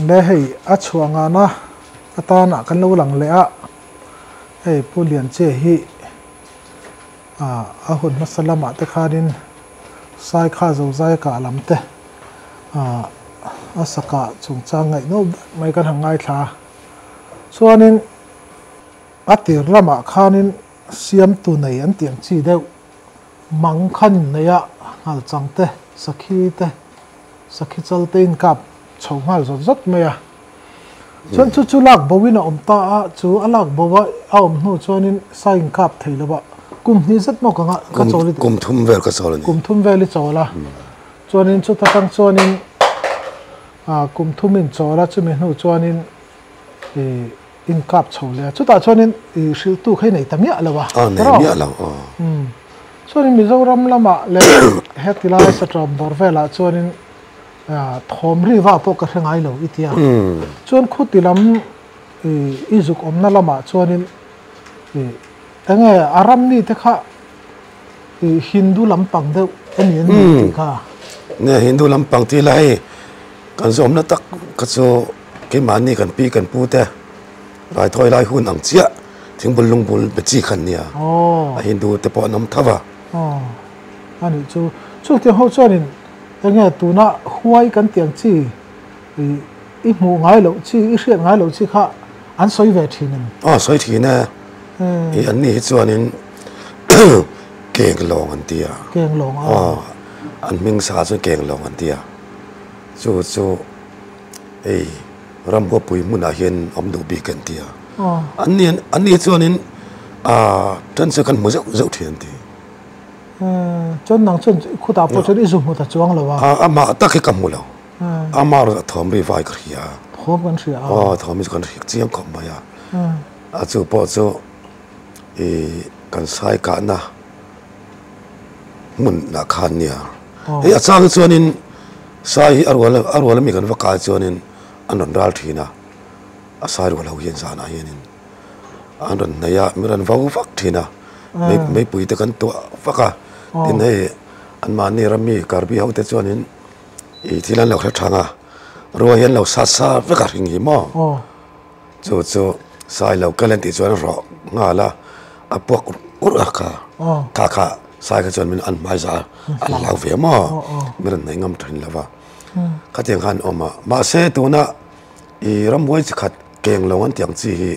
Be hei a chhuah nghahna atana kan lo lang leh a, hei Pu Lianche hi a hun hmasa lamah te khanin Saikha Zozai kah lam te a saka chungchang ngaihnawm ber mai kan han ngaithla a, chuanin a tir lamah khanin siamtu nei an tiang chi deuh. Mang khan inneia Ngalchang te, Sakhi te, Sakhi chal te inkap chho nghal zawt zawt mai a. Chuan chu chu lak boin a awm ta a, chu a lak bo a a awm hnu chuanin sa inkap thei lo va, kum hnih zet maw ka nga ka chawl i kum thum vel ka chawl a ni, kum thum vel i chawl a, chuanin chuta tang chuanin kum thum in chawl a chumi hnu chuanin ih, inkap chho le a, chutah chuanin i hrilhtuk hi a nei ta miah lo a, a nei miah lo aw, umm chuanin Mizoram lama leh hetilai Satawm dawr velah chuanin thawm riva pawh ka hre ngai lo i tia, chuan khutilam i zuk awmna lamah chuanin i. Enge a ram mite kha ih Hindu lampang deuh eni'n ni tih kha? Nge Hindu lampang tih la hei kan zawmna tak kha chu keimahni kan pi kan pu te raithawi lai hun ang chiah thingbul lungbul be chi khan nia a Hindu te pawh an awm tho va. Aw anih chu. Chutiang ho chuanin enge tuna huai kan tih ang chi? ih i hmuh ngai loh chi i hriat ngai loh chi kha an sawi ve thin em? Aw sawi thin e, ih anni hi chuanin Kenglawng an ti a, Kenglawng a, aw an hming sa chu Kenglawng an ti a, chu chu hei Ramhuapuii hmunah hian awm duh bik an ti a, anni anni chuanin a then chu kan hmu zeuh zeuh thin an ti. chuan nang chuan i khutah pawh chuan i zu hmu ta chuang lo a. A amah tak hi ka hmu lo. Amah erawh a thawmri vai ka hria. Thawm kan hria a. Aw, thawmri chu kan hria chiang khawp mai a. A chu pawh chu i kan saikahna hmunah khan nia. Hei a chang hi chuanin sai hi a rual a, a rual ami kan va kai chuanin an rawn ral thin a, a sai rual ho hian zanah hianin. an rawn hnaih a min rawn vo vak thin a meipui te kan tuah vak a tin hei an mahni rami karbi ho te chuan in ih thil an lo hre thang a rua hi an lo sat sa vek a hring hi maw chu chu sai lo kal en tih chuan a rawh nghal a a puak urh urh a kha kha kha sai kha chuan min an hmaisa a an hlau ve maw min rawn hnaih ngam thin lo va khatiang khan a awm a mahse tuna ih ramhuai chi khat Keng lo an tiang chi hi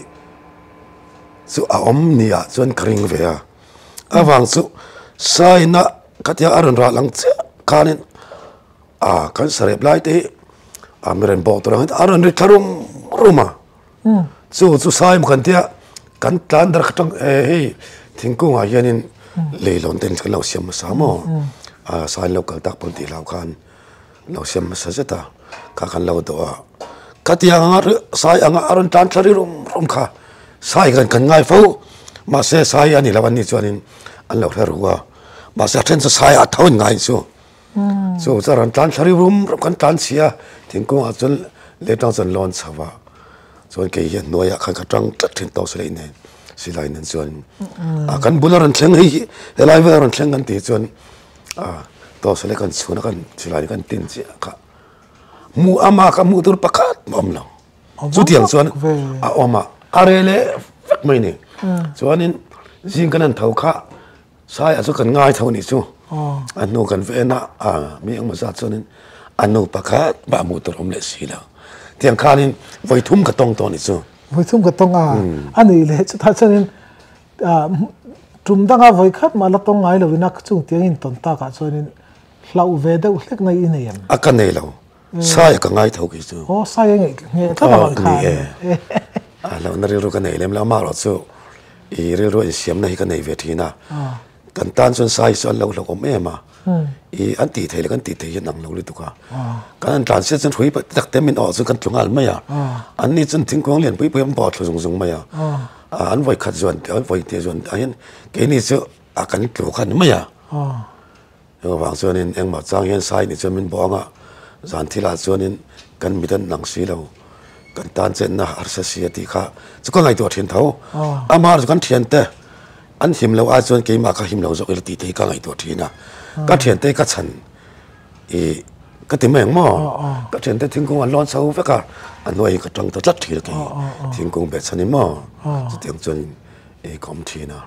chu a awm ni ah chuan ka ring ve a, avang chu saina khatia a rawn ralh ang chiah khan in ah kan sarep lai te hi ah mi renbawk tur ang hian a rawn ri thla rum rum a, chu chu sai maw kan tia kan tlan darh tang eh hei thingkung ah hian in leihlawn ten kan lo siam hmasa maw ah sailo kal tak pawh an tih hlau khan. lo siam hmasa zet a kha kan lo dawh a ka ti ang a sai ang a a rawn tlan thla rilru rum kha sai hian kan ngai fo mahse sai hi a ni lo an nih chuan in an lo hre rua mahse a then chu sai a tho in ngai chu chu chu a rawn tlan thla rilru rum kan tlan chhia thingkung ah chuan leh tang chuan lawn chho a chuan kei hian hnuai ah khan ka tang tlat thin tawh si lo inen silai nen chuan kan bul a rawn thleng hei hi he lai vel a rawn thleng kan tih chuan ah toss a kan chhuan a kan chhilai a kan tin chiah kha hmu a maka hmuh tur pakhat a awm lo chutiang chuan a awm a a rel e vek mai ni chuanin zing kan han tho kha saia chu kan ngai tho a nih chu a hnu kan veh na a mi engmaw zat chuanin a nu pakhat pah hmuh tur awm leh si lo tiang khanin vawithum ka tawng tawh a nih chu vawithum ka tawng a a nih leh chutah chuanin tum danga vawi khat mah la tawng ngai lovin a chung tiang in tawn takah chuanin hlauh ve deuh hlek na i nei em? A ka nei lo, Saia ka ngai tho khi chu. Aw, Saia i ngaih nge tlat ang ang khan? Aa, hlauhna rilru ka nei lem lo, amaherawhchu i rilrua insiamna hi ka nei ve thin a. kan tan chuan size chu an lo hlawk awm em a i an tih theih leh kan tih theih hi a nang lo lutuk a kan han tlan sia chuan hrui tak tak te min awh chu kan tlu nghal mai a an ni chuan thingkung lian pui pui an bawh thlu zung zung mai a an vawi khat zuan an vawi tih zuan dahin keini chu a kan tlu khan mai a. Hengavang chuanin engmah chang hian sai ni chuan min bawh anga zan thilah chuanin kan mit an lang si lo, kan tan chenna harsa si a tih kha chu ka ngaihtuah thin tho. Amah chu kan thiante an him loh a chuan keimah kha him lo zawk ila tih te hi ka ngaihtuah thin a, ka thiante hi ka chhan i ka ti mai ang maw? Ka thiante thingkung an lawn chho vek a, a hnuai hi ka tang ta tlat thin a kei thingkung beh chhan i maw? Chutiang chuan i ka awm thin a.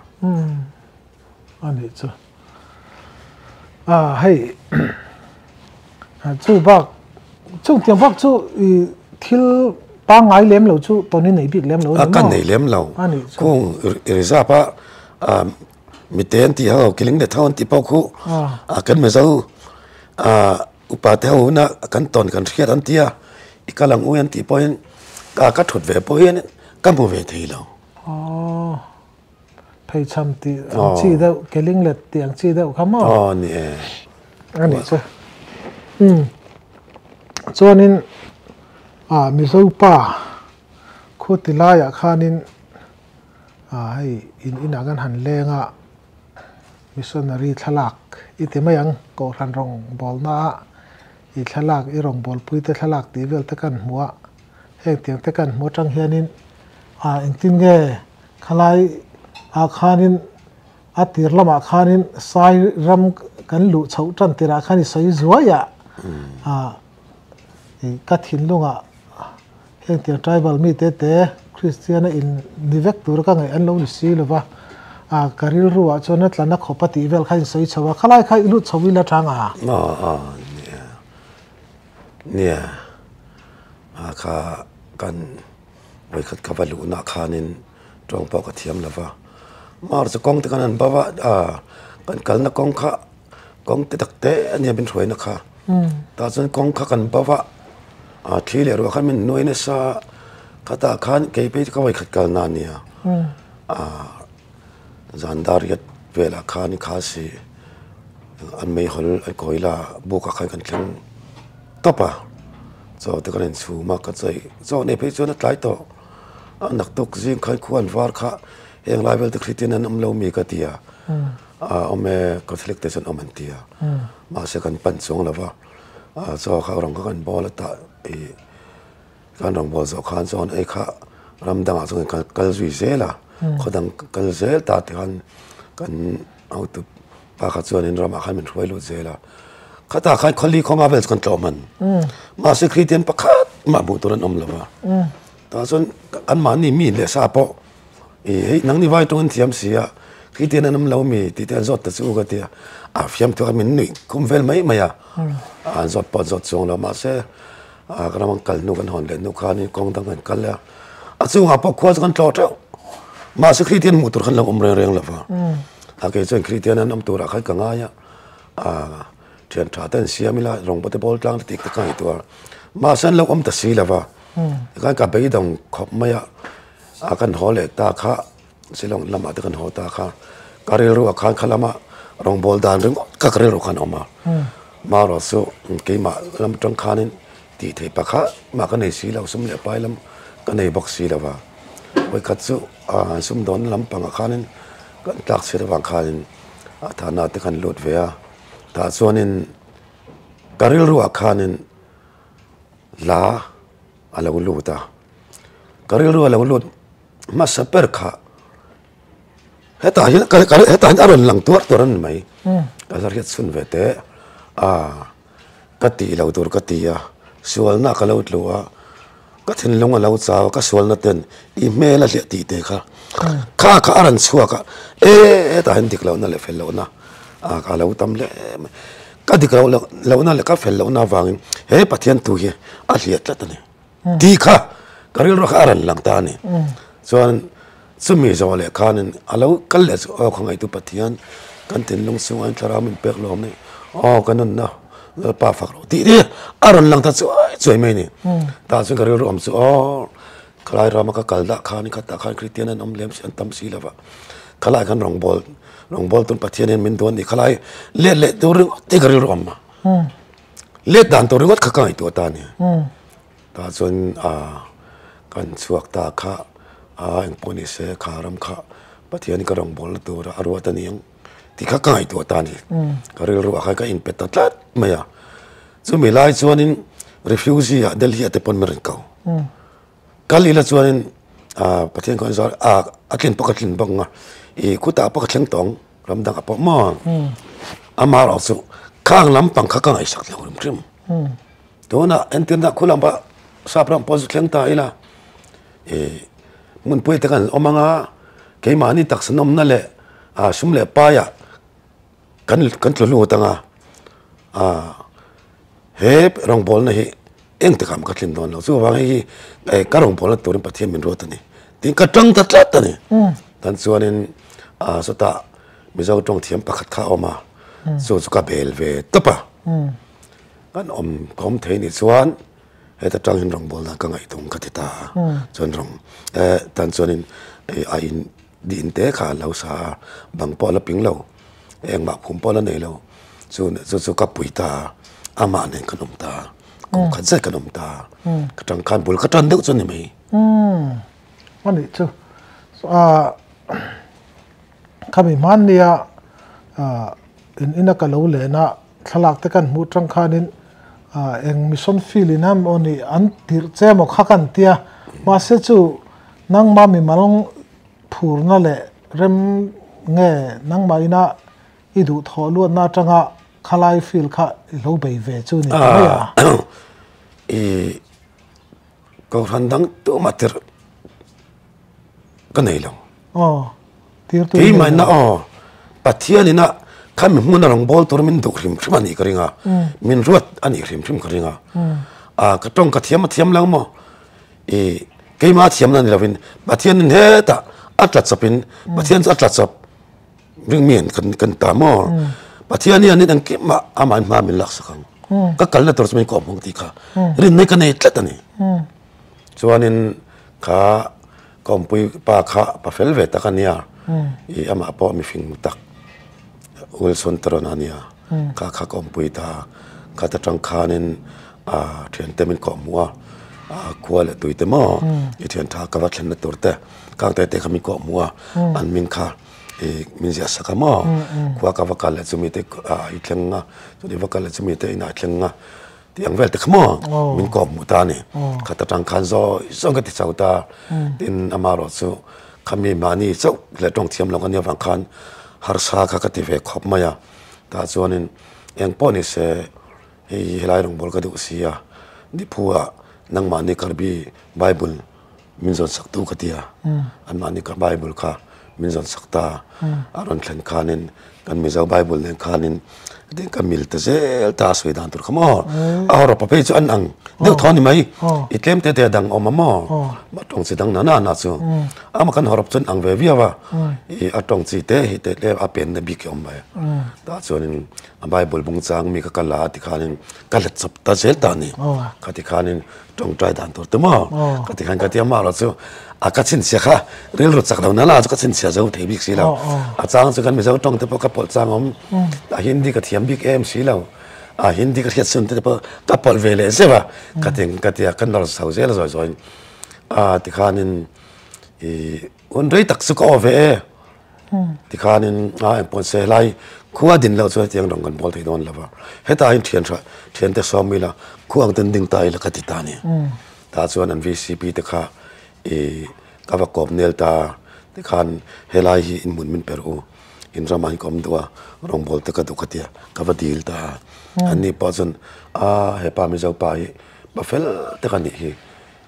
A nih chu. Ah hei chu bak chauh tiang bak chu i thil pangngai lem lo chu tawn i nei bik lem lo a ni maw? A ka nei lem lo. A nih chu. Khung i reserve a ah mite an tih ho, keling leh thau an tih pawh khu ah kan hme zo. Ah upate ho huna kan tawn kan hriat an tia i kal ang ui an tih pawhin ah ka thut ve pawhin ka hmu ve thei lo. Aww. Phei chham tih ang chi deuh, keling let tih ang chi deuh kha maw? Aw ni e. A ni chu. Hmm. Chuanin ah Mizo pa khu ti laiah khanin ah hei in inah kan han leng a, missionary thlalak i ti mai ang, Kohhran rawngbawlna ah i thlalak, i rawngbawlpuite thlalak tih vel te kan hmu a, heng tiang te kan hmu atang hianin ah engtin nge? Khalai ah khanin a tir lamah khanin sai ram kan luh chhoh tan tirah khan i sawi zuaia ka thinlung ah heng tir tribal mite te Kristian a in ni vek tur ka ngaih an lo ni si lova ka rilru ah chuan a tla na khawpa tih vel kha in sawi chho a khalai kha i lut chho ila chang a. Aw aw nia nia a kha kan Vawikhat ka va luhna khanin tawng pawh ka thiam lova, mar chu kawngte kan han bava kan kalna kawng kha kawngte takte a nia min hruaina kha tah chuan kawng kha kan bava thli leh ruah kha min nuai nasa khatah khan kei phei chu ka vawikhat kalna nia. Zandariat velah khan i kha si, an meihawl i kawi la, bukah khan kan thleng tawp a, chaute kan in chhum a, ka chaih zawk neih phei chuan a tlai tawh, a nak tuk zing khan khua an var kha, heng lai velte Khritin an awm lo mi ka ti a, a awm e, Catholic te chuan awm an ti a, mahse kan pan chuang lo va, chaw kha rang kha kan bawl a tah i, Kan rawn bual zawh khan chuan hei kha ram dangah chuan kan kal zui zel a, khaw dang ka kal zel ta tih khan kan hotu pa kha chuan in ramah khan min hruai lut zel a. Khata khan khawli khawma vel chu kan tlawh hman. Mahse Khritian pakhat mah hmuh tur an awm lo va. Tah chuan kan mahni mi leh sa pawh I hei nang ni vai tawngin thiam si a, khi te hian a num lo a mi tih te an zawt ta chu ka ti a. A fiam thluak a min nuih khum vel mai mai a, an zawt pawh an zawt chuang lo mahse a ka ram kal hnu kan hawn leh hnu khanin kawng dang kan kal a. A chhungah pawh khua chu kan tlawh teuh, mahse khi te hian hmuh tur kha an lo awm reng reng lova, a ke chuan khi te hian an awm turah kha i ka ngai a, a thian tha te an siam ila rawngbaw te bawl tlang te tih kha ka ngaihtuah a, mahse an lo awm ta si lova, tikhan ka beidawng khawp mai a. A kan haw leh ta kha, Silawng lamah te kan haw ta kha, ka rilru a khan kha lama rawngbâwl dan ringawt kha ka rilru khan a awm a. Marawh chu keimah lam ṭang khanin tih theih pakhat mah ka nei si lo, sum leh pai lam ka nei bawk si lo va. Hawikhat chu an sum dawn lam pangah khanin kan tlâk chhiat avang khanin a thana te kan lût ve a. Tah chuanin ka rilru ah khanin hla, a lo lut a, ka rilru a lo lut hmasa ber kha hetah hian ka ka hetah hian a rawn lang tuar tuar a ni mai, ka la hriat chhun ve teh a, ka tih lo tur ka ti a, sualna ka lo tluh a, ka thinlung a lo chau a, ka sualna ten i hmel a hliah tih te kha kha kha a rawn chhuak a, e hetah hian dik lohna leh fel lohna a lo tam hle mai. Ka dik rauh lohna leh ka fel lohna avangin he Pathian thu hi a hliah tlat a ni tih kha ka rilru kha a rawn lang ta a ni. Chuan chumi zawh leh khanin a lo kal leh chu aw khawngaitu Pathian kan thinlung chhunga in thlarau min pek lawm ni, aw ka nunna Lalpa fak rawh tih hi a rawn lang ta chuai chuai mai a ni. Tah chuan ka rilru awm chu aw Khalai rama ka kal dah khan i khat dah khan Kristian an awm lem si, an tam si lo vah. Khalai khan rawngbâwl, rawngbâwl tûn Pathian hian min duan ni. Khalai let leh tûr ringawt hi ka rilru awm a. Let dan tûr ringawt kha ka ngaihtuah ta nia. Tah chuan kan chhuak ta kha eng pawh ni se, kharam kha Pathian ka rawngbâwl na tûra a ruat a ni ang. tih kha ka ngaihtuah ta a ni. Ka rilru ah khan ka inpe ta tlat mai a. Chumi lai chuanin refugee-a Delhi-a te pawn min rawn kal. Kal ila chuanin Pathian khawngaih zawng a, a tlin pawh ka tlin bawk ang a, ih khutah pawh ka thleng tawh ang, ram dang ah pawh maw? Amaherawhchu khang lampang kha ka ngaihsak thlang ringrim. Tunah entirna khua lama Sapram pawh chu thleng tahin a hmunpui te kan awm anga keimahni taksanawmna leh sum leh paia kan tlu lut anga he rawngbawlna hi eng takah ma ka thlin dawn lo. Chu vang hi ka rawngbawlna turin Pathian min ruat a ni tiin ka tang ta tlat a ni. Tan chuanin sawtah Mizo tawng thiam pakhat kha a awm a, chu chu ka bel ve tawp a. Kan awm khawm thei nih chuan heta tang in rawn bawlhdan ka ngaih thung ka ti ta a, chuan rawn tan chuanin a in di in te kha a lo sa a, bang pawh a la ping lo, engmah khum pawh a la nei lo, chu chu ka pui ta a, amah nen kan awm ta a, kum khat zet kan awm ta a, ka tangkhan bul ka tan deuh chu a ni mai. A nih chu, khami hmannia in ina ka lo len a, Thlalak te kan hmuh tang khanin eng mission field in an aw nih an tirh che maw kha kan tia, mahse chu nangma mimal phurna leh rem nge nangmah ina i duh thawh luatna atanga khalai field kha i hlo bei ve chu ni ta mai a. Cohlan dang tuma tir ka nei lo. Aw, tir tur i nei lo. Keimaina aw, Pathian ina khan min hmuna rawn bawl tur min duh hrim hrim a nih ka ring a, min ruat a nih hrim hrim ka ring a. Ka tawng ka thiam a thiam lang maw, i keima thiamna ni lovin Pathianin hetah a tla chawpin, Pathian chu a tla chawp. ring mi an kan kan ta maw pathian hian nen ang kem mah amah hma min lak sak ang ka kalna tur chu min kawm hmang tih kha rin mai ka nei tlat a ni chuanin kha kawmpui pa kha pa fel ve tak a nia i amah pawh mihring tak Wilson Tarawna a nia ka khak awm pui ta a, khat atang khanin thiante min kawh hmu a, khua leh tuite maw i thian tha ka va thlenna tur te kang te te kha min kawh hmu a, an min kha i min ziah sak a maw, khua ka va kal leh chu mite i thleng a, chumi va kal leh chu mite inah i thleng a, Tiang vel te kha maw min kawp hmuh ta a ni. Kha ta tang khan zawi zawi ka ti chho ta. Tin ama erawh chu kha mi mahni chauh leh tawng thiam lo ka nia vang khan harsa kha ka ti ve khawp mai a. Tah chuanin eng pawh ni se hei hi helai rawngbawlka duh sia, Niphu ah nangmahni Karbi Bible, min zawn sak tu ka ti a, anmahni ka Bible kha min zawn sak ta a, a rawn thlen khanin kan Mizo Bible nen khanin eng ka mil ta zel ta a sawi dan tur kha maw, a ho rawpa phei chu an ang deuh thaw a ni mai, i tlem te te a dang a awm a maw, a tawng chi dang nana nana chu ama kan ho rawp chuan an ang ve viau a, i a tawng chi te hi te tlem a penna bik hi a awm mai, tah chuanin a Bible bung chang mi ka kal a tikhanin ka hlat chawp ta zel ta a ni, kha tikhanin. Tawngtai dan tur te maw? Ka ti khan ka ti a mah lo chu a ka chhinchhia kha rilru chak lo nana chu ka chhinchhia zo thei bik si lo a chang chu kan mizo tawngte pawh ka pawlh chang awm a hindi ka thiam bik em si lo a hindi ka hriatchhun te pawh ka pawlh ve leh zeuh a ka ti ka ti a ka nawlsau zel zawih zawih a tikhanin ih. Hun rei tak chu ka awve e. Tikhanin a en pawn se helai khua din lo chu hetiang rawn kan bual thei dawn lova. Hetahin thian tha thian te sawm ila khua ang ten ding ta ila ka ti ta nia. Ta chuan an vcp te kha i ka va kawp nel ta tikhan helai hi in hmun min per u inram ah hi ka awm duh a rawngbawlh te ka duh ka ti a ka va dil ta a. Anni pawh chuan a hepa mizo pa hi pa fel tak a nih hi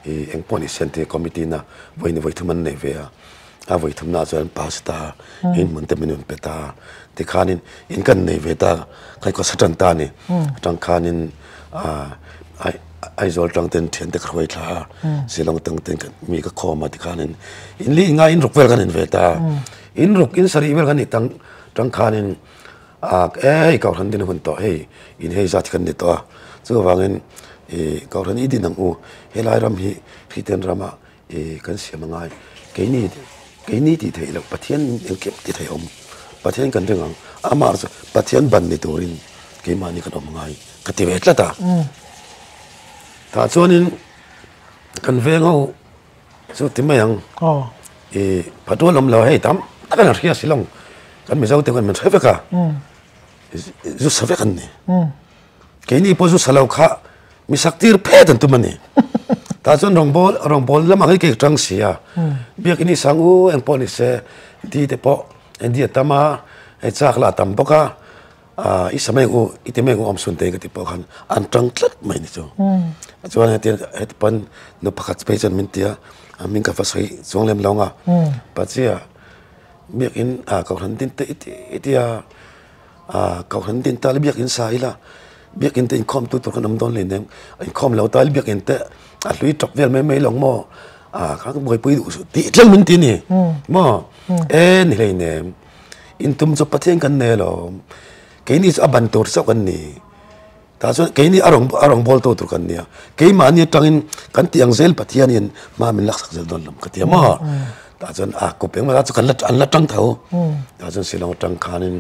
i eng pawh ni siam tih committee na vawi ni vawi thum an nei ve a, a vawi thum naah chuan pa si ta in hmun te min rawn pe ta tikhan in in kan nei ve ta khawi khawsa tan ta ni tang khan in Aizawl tang ten thian te ka hruai thla a, Zilawng tang ten mi ka khawm a tikhan in in lih ngai in ruk vel kan in ve ta in ruk in sarih vel kan ni tang tang khan in. Ak e, hei Kauhran din a hun tawh hei, in hei zat hi kan ni tawh a, chu avangin i Kauhran i din ang u, helai ram hi Hritain ram a i kan siam a ngai, keini keini tih theih loh Pathian engkim ti theih awm, Pathian kan ring ang, amah chu Pathian ban ni turin keimahni kan awm a ngai ka ti ve tlat a. Tah chuanin kan veng ho Chu ti mai ang. Aw. I phadual awm lo hei tam takin a hria si lo. Kan mizo te khaw min hre vek a. Umm. Zut sa vek an ni. Umm. Keini pawh zut sa lo kha mi sak tir phet an tum a ni. Tah chuan rawngbâwl rawngbâwl lamah hi kei ṭang si a. Umm. Biak i ni sang u eng pawh ni se, di te pawh eng di a tam a, hei châk la a tam bawk a. Aaa i sa mek u, i ti mek u awmsun te ka tih pawh khan an tang tlat mai ni chu. Chuan heti heti pawn nu pakhat phei chuan min ti a, a min ka va sawi chuang lem lo anga, Pachia biakin aa ka han din ta i ti i ti a, aa ka han din ta le biak in sa ila, biakin te inkhawmtu tur kan awm dawn leh ning, inkhawm lo ta le biakin te a hlui tawp vel mai mai lawng maw, aa ka buaipui duh suh tih tlem min ti a ni maw, e ni hleinem. intum chu pathian kan nei alawm keini chu a ban tur chauh kan ni tah chuan keini a rawn a rawn bawltu tur kan nia keimahni atangin kan tih ang zel pathianin hma min laksak zel dawn lo ka ti a maw tah chuan a kup eng emaw chu kan la an la tang tho tah chuan silawng atang khanin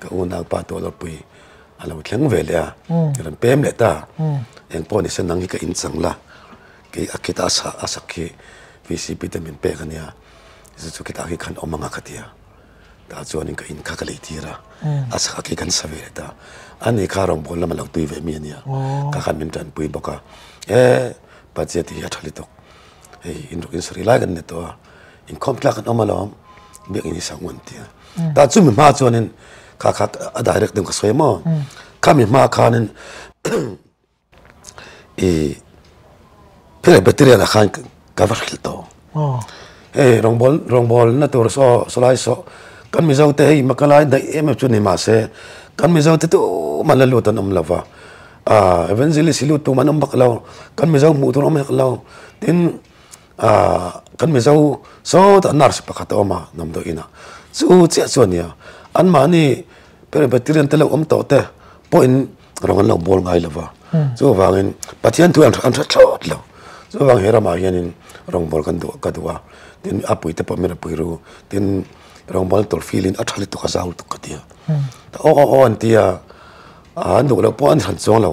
ka unau pa Tualawrpui a lo thleng ve leh a i rawn pem leh ta eng pawh nise nang hi ka inchang la kei a khitah a sak hi vcp te min pek a nia. Zu chu khitah khi khan awm anga ka ti a, tah chuan ka in kha ka lei tir a, a sakah khi kan sa ve let a, a ni kha rawng bawl lama lo tui ve mi a nia, ka khan min tan pui bawk a, he Pathian te hi a tha hli tawk, hei in ruk in sarih lai kan ni tawh a, inkhawm thlak kan awm alawm, biak in i sak ngam tih a, tah chu mi hma chuan in kha kha a direct deuh ka sawi maw, kha mi hma khan in. ihh kheng e battery lah khan ka va hrilh tawh aw hei rawngbawlh rawngbawlna tur saw salai saw kan mizo te hei maka lai daih em em chu ni mahse kan mizo te tumah la lut an awm lova ah evangelist i lut tum an awm vak lo kan mizo hmuh tur a awm vek lo tin ah kan mizo sawtah nurse pakhat a awm a damdawi inah chu chiah chuan nia anmahni kheng e battery an tilo awm tawh te pawhin rawn lo bawl ngai lo va, chu vangin Pathian thu an hre thlawt lo, chu vang he ramah hianin rawngbawlh kan duh ka duh a, tin a puite pawh min ri pui ru, tin rawngbawlna tur field in a tha lutuk a zau lutuk ka ti a, ta aw aw aw an ti a, an duh loh pawh an han chuang lo,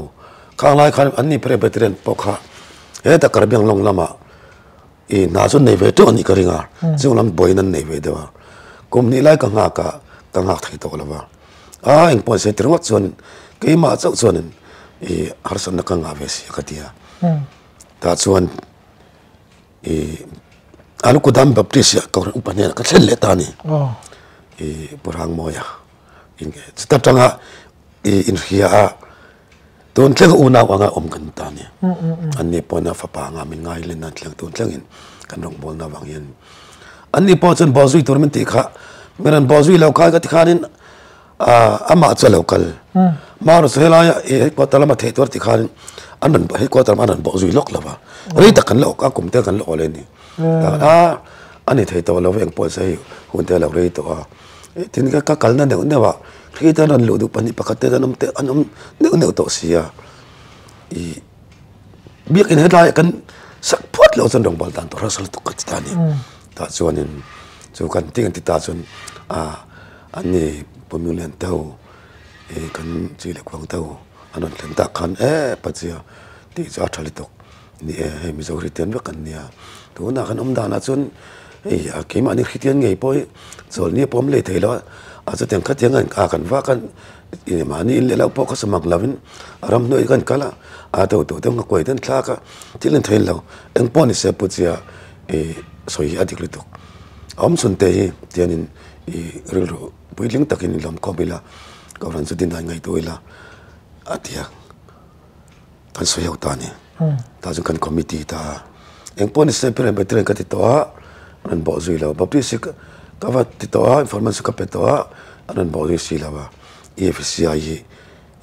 khang lai khan anni presbyterian pawh kha heta Karbi anglawng lamah I hna chu nei ve teuh anih ka ring a, chung lam buai in an nei ve deuh a, kum hnih lai ka nghak a, ka nghak thei tawh lova, aa engpawh an sawi ti ringawt chuan keimah chauh chuan i harsatna ka ngah ve si a ka ti a, tah chuan i Alukudam Baptist ah ka upa hnenah ka thleng leh ta a ni, i Pu Rangmawia, chutah tang a i inhria a, tun tleng unau anga awm kan ta nia, an ni pawhna fapa anga min ngai len a thleng tun tlengin kan rawn bawlna avang hian ni. An ni pawh chuan bawlzui tur min tih kha, min rawn bawlzui lo kai ka ti khanin amah chu a lo kal, hma rusa helaia i headquarter lama theih tur ti khanin an rawn headquarter lamah an rawn bawlzui lawk lova, rei tak kan la awk a, kum te kan la awleh a ni. Aa a ni thei tawh lo eng pawh a se hei, hunte a lo rei tawh a. tin ka ka kalna neuh neuh a khi ta rawn luh duh pahnih pakhat te hian an awm neuh neuh tawh si a ih biakin hetlai kan sak phuat loh chuan rawngbawl dan tawh rang sang tak ka ti ta a ni tah chuanin chu kan tih ang ti ta chuan ah an ni puimu lian te ho ih kan chi leh kuang te ho an rawn thleng tak khan eeh Pazia tih chu a tha hli tawk. Ni e, hei Mizo Hristian vek an nia, tunah kan awm danah chuan hei keimahni Hristian ngei pawh hi chawlhni a pawm leh thei lo a, a chutiang kha tianga a kan vak a, eng mahni in leh loh pawh ka samak lovin a ram hnuaih hi ka rawn kal a, a do tawh deuh ngakua hi ka rawn thlak a, thil an theih lo, eng pawh ni se pu chiah ih sawi hi a dik lutuk, a awmchhun te hi tiangin ih rilru puitling takin i lawmkhawm ila ka ruah chu dinai ngeitu ila a tiang. kan sawi ho ta ni tah chuan kan committee ta eng pawh ni se pawh reng bet reng ka ti tawh a an rawn bawh zui lo bawk si ka va ti tawh a informant chu ka pe tawh a an rawn bawh zui si lo a i f c i hi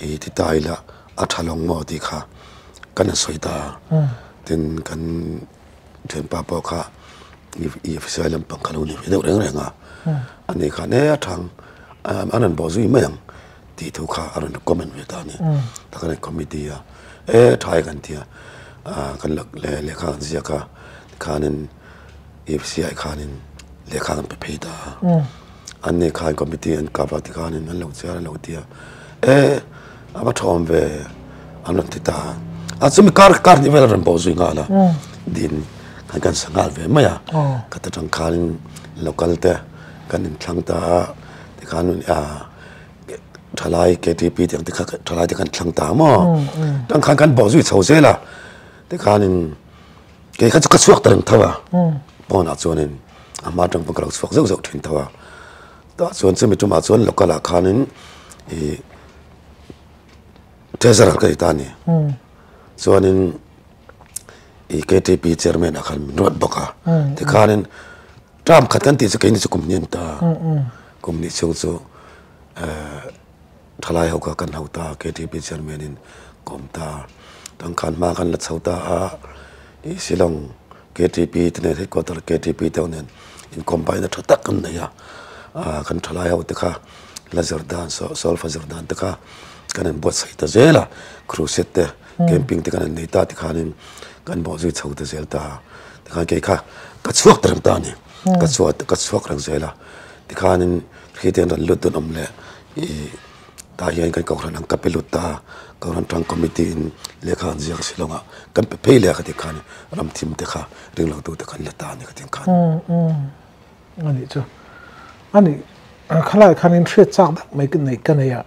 i ti ta ila a tha lawng maw tih kha kan han sawi ta a tin kan thianpa pawh kha i f c i lam pang kha lo ni ve deuh reng reng a ani khan e a thang an rawn bawh zui mai ang tih thu kha a rawn comment ve ta a ni. A ka rawn committee a e tha hi kan tia ahh kan lak leh lehkha kan ziak a tikhanin EFCI khanin lehkha kan pe phei ta a an nih khan committee an kap a tikhanin an lo chiar an lo ti a e a va thawm ve an rawn ti ta a a chumi kar kar hnih vel a rawn bo zui nghal a din khan kan sa nghal ve mai a ka ta tang khanin local te kan inthlang ta a tikhanin ahh Thalai KTP tiang te kha thalai te kan thlang ta maw? Kan khan kan bawh zui chho zel a. Te khanin kei kha chu ka chhuak ta reng tho a. Pawnah chuanin a hma atang pawh ka lo chhuak zeuh zeuh thin tho a. Tah chuan chumi tumah chuan local ah khanin i Treasurer ka ni ta a ni. Chuanin i KTP Chairman ah khan min rawt bawk a. Tikhanin. Trump khat kan tih chu keini chu kum ni a ni ta, kum ni chhung chu thalai ho kha kan hau ta, KTP Chairman in kawm ta, kan khan hma kan la chho ta a, i Shillong KTP te nen, Headquarter KTP te ho nen incombine na tha tak kan nei a, kan thalai ho te kha la zir dan, solve a zir dan te kha kan inbuatsaih ta zel a, Crusade te. Camping te kan rawn nei ta tikhanin kan bawh zui chho ta zel ta tikhan kei kha ka chhuak ta reng ta a ni ka chhuak ka chhuak reng zel a tikhanin khi te an rawn lut dawn awm leh ih tah hian kan kohhran ang ka pe lut ta kohhran tang committee in lehkha an ziak a si lawng a kan pe phei leh a ka ti khan ram thim te kha ring lo tute kan la ta a ni ka ti ang khan a nih chu a nih khalai khan in hriat chak deuh mai ka nei ka nei a.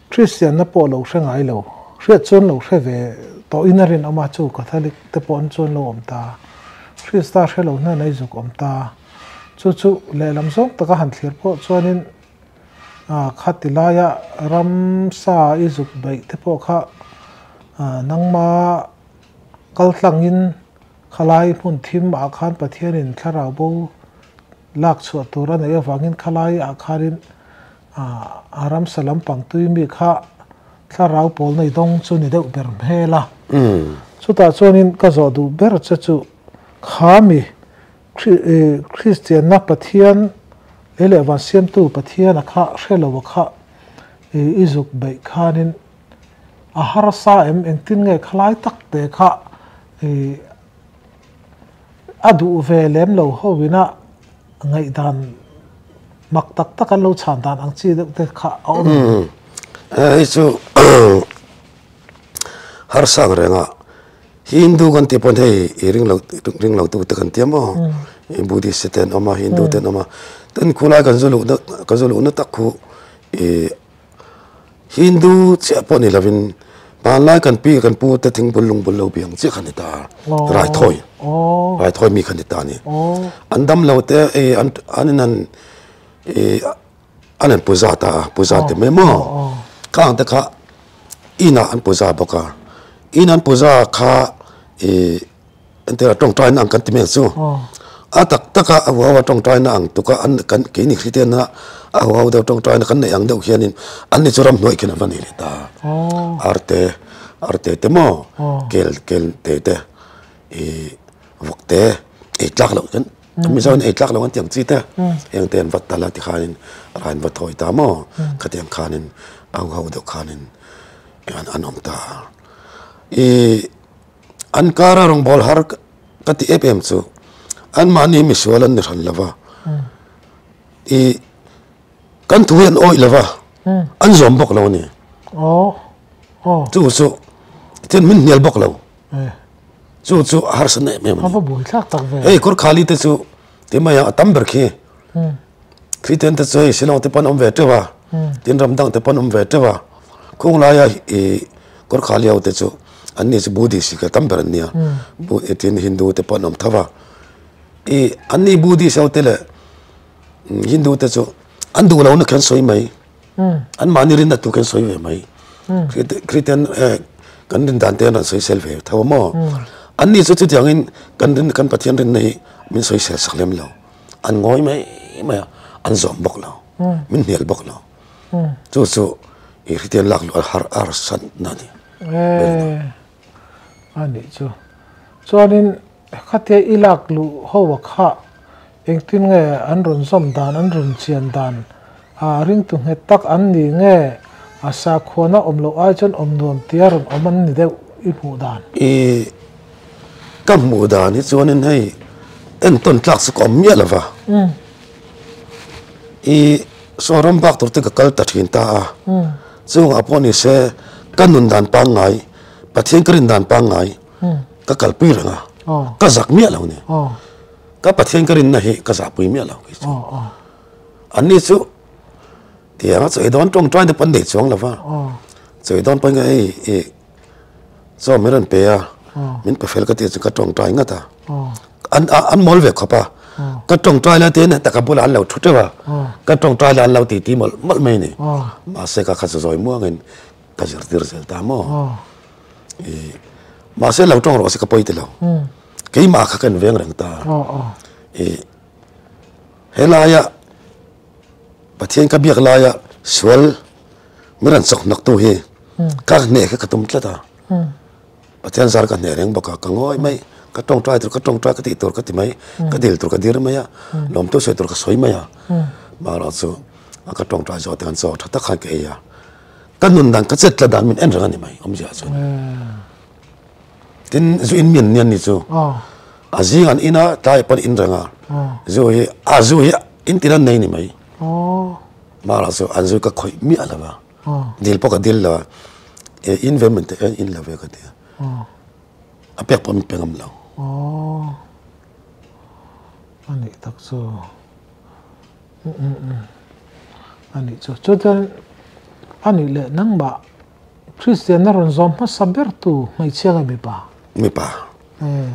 Kristianna pawh lo hre ngai lo. Hriat chuan lo hre ve tawhin a rinawm a, chu Catholic te pawh chuan lo awm ta a. Krista hre lo hna nei zuk awm ta a. Chu chu lehlam zawng taka han thlir pawh chuanin khati laia ramsa i zuk beih te pawh kha nangma kal tlangin khalai hmun thim ah khan Pathianin thlarau bo lak chhuah tur a nei avangin khalai ah khanin a ramsa lampang tuimi kha thlarau pawl nei dawng chu ni deuh ber hmel a, chutah chuanin ka zawh duh ber che chu khami Kristianna Pathian lei leh van siamtu Pathiana kha hrelo kha i zuk beih khanin a harsa em engtin nge khalai tak te kha A duh ve lem lo ho in a ngaihdan mak tak tak an lo chhan dan ang chi deuh te kha a awm em? Hei chu harsang reng a Hindu kan tih pawn hei i ring lo ring lo tu te kan tia maw? I Buddhist te ten awm a Hindu ten awm a, tin khulai kan zu luh na kan zu luh na tak khu i Hindu chiah pawh ni lovin hmanlai kan pi kan pu te thingbul lungbul lo biang chiah kha ni ta, raithawi raithawi mi kha ni ta ni. An dam lo te i an in han i an han pu za ta, pu za ti mai maw? Ka ang te kha inah an pu za bawk a, inah an pu za kha i. Entira tawngtaina ang kan ti mek chu. A tak taka a huaua tawngtaina ang tuka an kan keini hritiana a huau deuh tawngtaina kan nei ang deuh hianin anni chu ram hnuaih khin an hman ni rih ta. Arte, arte te maw, kel, kel te te, ih vawk te, eitlak loh kan, Mizoin eitlak loh kan tih ang chi te, heng te an va tal a tikhanin a rahin va thawi ta maw, khatiang khanin a huau deuh khanin an awm ta. Ih. An kara rawn bawl har ka ti em em chu, anmahni hi misual an ni hran lo va, i kan thu hi an awih lo va, an zawm bawk lo a ni. Chu chu chuan min hnial bawk lo, chu chu a harsa na em em a ni. Hei Kawrkhali te chu, ti mai a, a tam ber khi Kristian te chuan Shillong te pawh an awm ve teuh a, tin ram dang te pawh an awm ve teuh a, khung laia ih Gorkha leh hote chu an ni chu Buddhist ih tam ber an ni a, ih tin Hindu te pawh an awm tho va, ih an ni Buddhist ho te leh Hindu te chu an duh lohna khi an sawi mai, an mahni rinna tu khi an sawi ve mai, Kristian eh kan rin dan te an rawn sawisel ve tho maw? An ni chu chutiangin kan rin kan Pathian rinna hi min sawisel sak lem lo. an ngawi mai mai a an zawm bawk lo min hnial bawk lo chu chu ih hriatia lak luh har a arsa na a ni eh a nih chu chuanin khatia i lak luh ho kha engtin nge an rawn zawm dan an rawn chian dan. A ringtu nghet tak an ni nge? A sakhuana awm loh ai chuan awm nuam tia rawn awm an ni deuh i hmuh dan? I ka hmuh dan hi chuanin hei entawn tlak chu ka awm miah lova, i Sawram bak tur te ka kal ta thin ta a, chungah pawh ni se ka nun dan pangngai Pathian ka rin dan pangngai ka kalpui reng a, ka zak miah lo ni. Ka Pathian ka rinna hi ka zahpui miah lo. An ni chu tiang a chawi dawn tawngtai te pawh an nei chuang lo va, chawi dawn pahin ka ei i chaw min rawn pe a, min pe fel ka tih chuan ka tawngtai ngat a, an mawl ve khawp a, ka tawngtai lai tih hian heta ka bulah an lo thu teuh a, ka tawngtai lai an lo titi mawlh mawlh mai a ni, mahse ka kha zawi muangin ka zirtir zel ta maw i, mahse lo tawng rawh se ka pawi tilo, keimah kha ka inveng reng ta i. He laia Pathian ka biak laia sual min rawn chawk naktu hi ka hneh khi ka tum tlat a. Pathian zar ka hneh reng bawk a, ka ngawi mai, ka tawngtai tur ka tawngtai, ka tih tur ka ti mai, ka dil tur ka dir mai a, lawmtu sawi tur ka sawi mai a. Marawh chu a ka tawngtai zawh te khan chaw tha tak khan ka ei a. Ka nun dan, ka chet tla dan min en reng a ni mai awmzia chuan. Tin zu in mian mian ni chu a zing an in a tlai pawh in reng a zu hi a zu hi in tin an nei ni mai mahal ah sawn an zu ka khawih miah lo va dil pawh ka dil lo a he in ve man teh hian in lo ve ka ti a a pek pawh min pe ngam lo a nih tak chu a nih chu chuan chuan a nih leh nang mah. Kristianna rawn zawm hmasa bertu hmeichhia leh mipa? Mipa.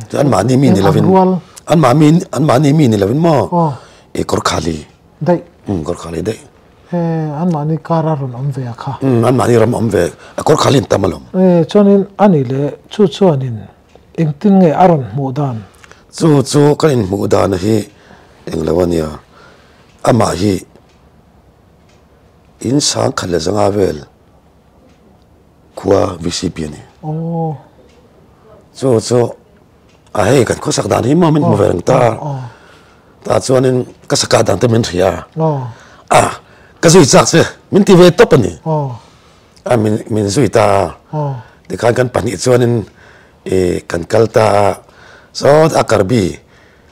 Chuan an mahni mi ni lovin. An rual. An mahni, an mahni mi ni lovin maw? Aw. E Gorkhali. Daih. Um, Gorkhali daih. E, an mahni kara rawn awm ve a kha? Um, an mahni ram awm ve. A Gorkhali an tam alawm. E, chuanin a ni le, chu chuanin engtin nge a rawn hmuh dan? Chu chu ka inhmuh dan hi englo a nia, amah hi in Sangkhat leh Zanga vel. khua VCP a ni. Oh. Chu chu a hei kan khua sak dan hi mawm in hmu ve reng ta. Ta chuanin ka saka dan te min hria a. Oh. A ka zui chak che min ti ve tawp a ni. Oh. A min min zui ta. Oh. Tikhan kan pahnih chuanin e kan kal ta a saw a karbi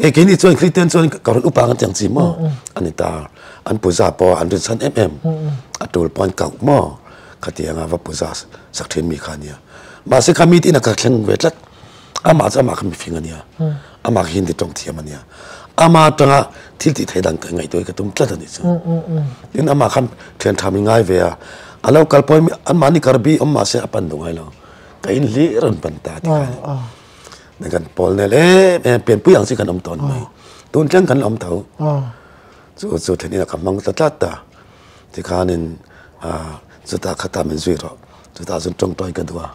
He keini chuan Kristian chuan ka rawn upa ka tiang chi maw? A ni ta. An puza pawh an rinsan em em. A tul pawh an kauh maw? Ka ti anga va puza sak thin mi kha a nia. Mahse kha mi tinah ka thleng ve tlat. Amah chu amah kha mifing a nia. Amah kha Hindi tawng thiam a nia. Amah atanga thil tih theih dan ngaihtuah hi ka tum tlat a nih chuan. Tin, amah kha thian tha min ngai ve a. A lo kal pawhin anmahni kar bi awm mahse a pan duh ngai lo. Ka inhlih a rawn pan ta tikah a ni. Nen kan pawl nel em em pian pui ang si kan om ton mai. Tun tleng kan om tho. Chu chu thlen ina ka mang ta tlat ta. Ti khan in a chu ta kha ta min zui ro. Chu ta zun tong toi ka dua.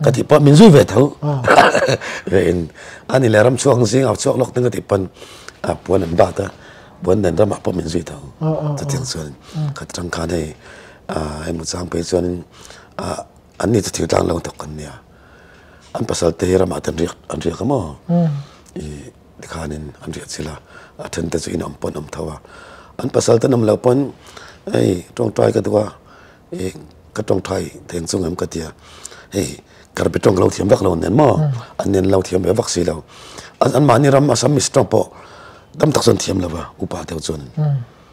Ka ti pawh min zui ve tho. Ve in a ni le ram chhuak ang zing a chhuak lawk ning ka ti pan a puan an bat a puan nen ram ah pawh min zui tho. Chu tiang chuan khat tang khan hei a hemi chang pui chuan in a an ni chu thir tlang lo tak kan nia. An pasalte hi ramah te an riak an riak amaw i tikhanin an riah chila a thente chu inawm pawh an awm tho a an pasalte nawm lo pawn hei tawngtai ka duh a i ka tawngtai thei ang chungem ka tia hei karbi tawng lo thiam vak lo an nen maw an nen lo thiam ve vak si lo anmahni ram assamese tawng pawh tam tak chuan an thiam lo va upa deuh chuan.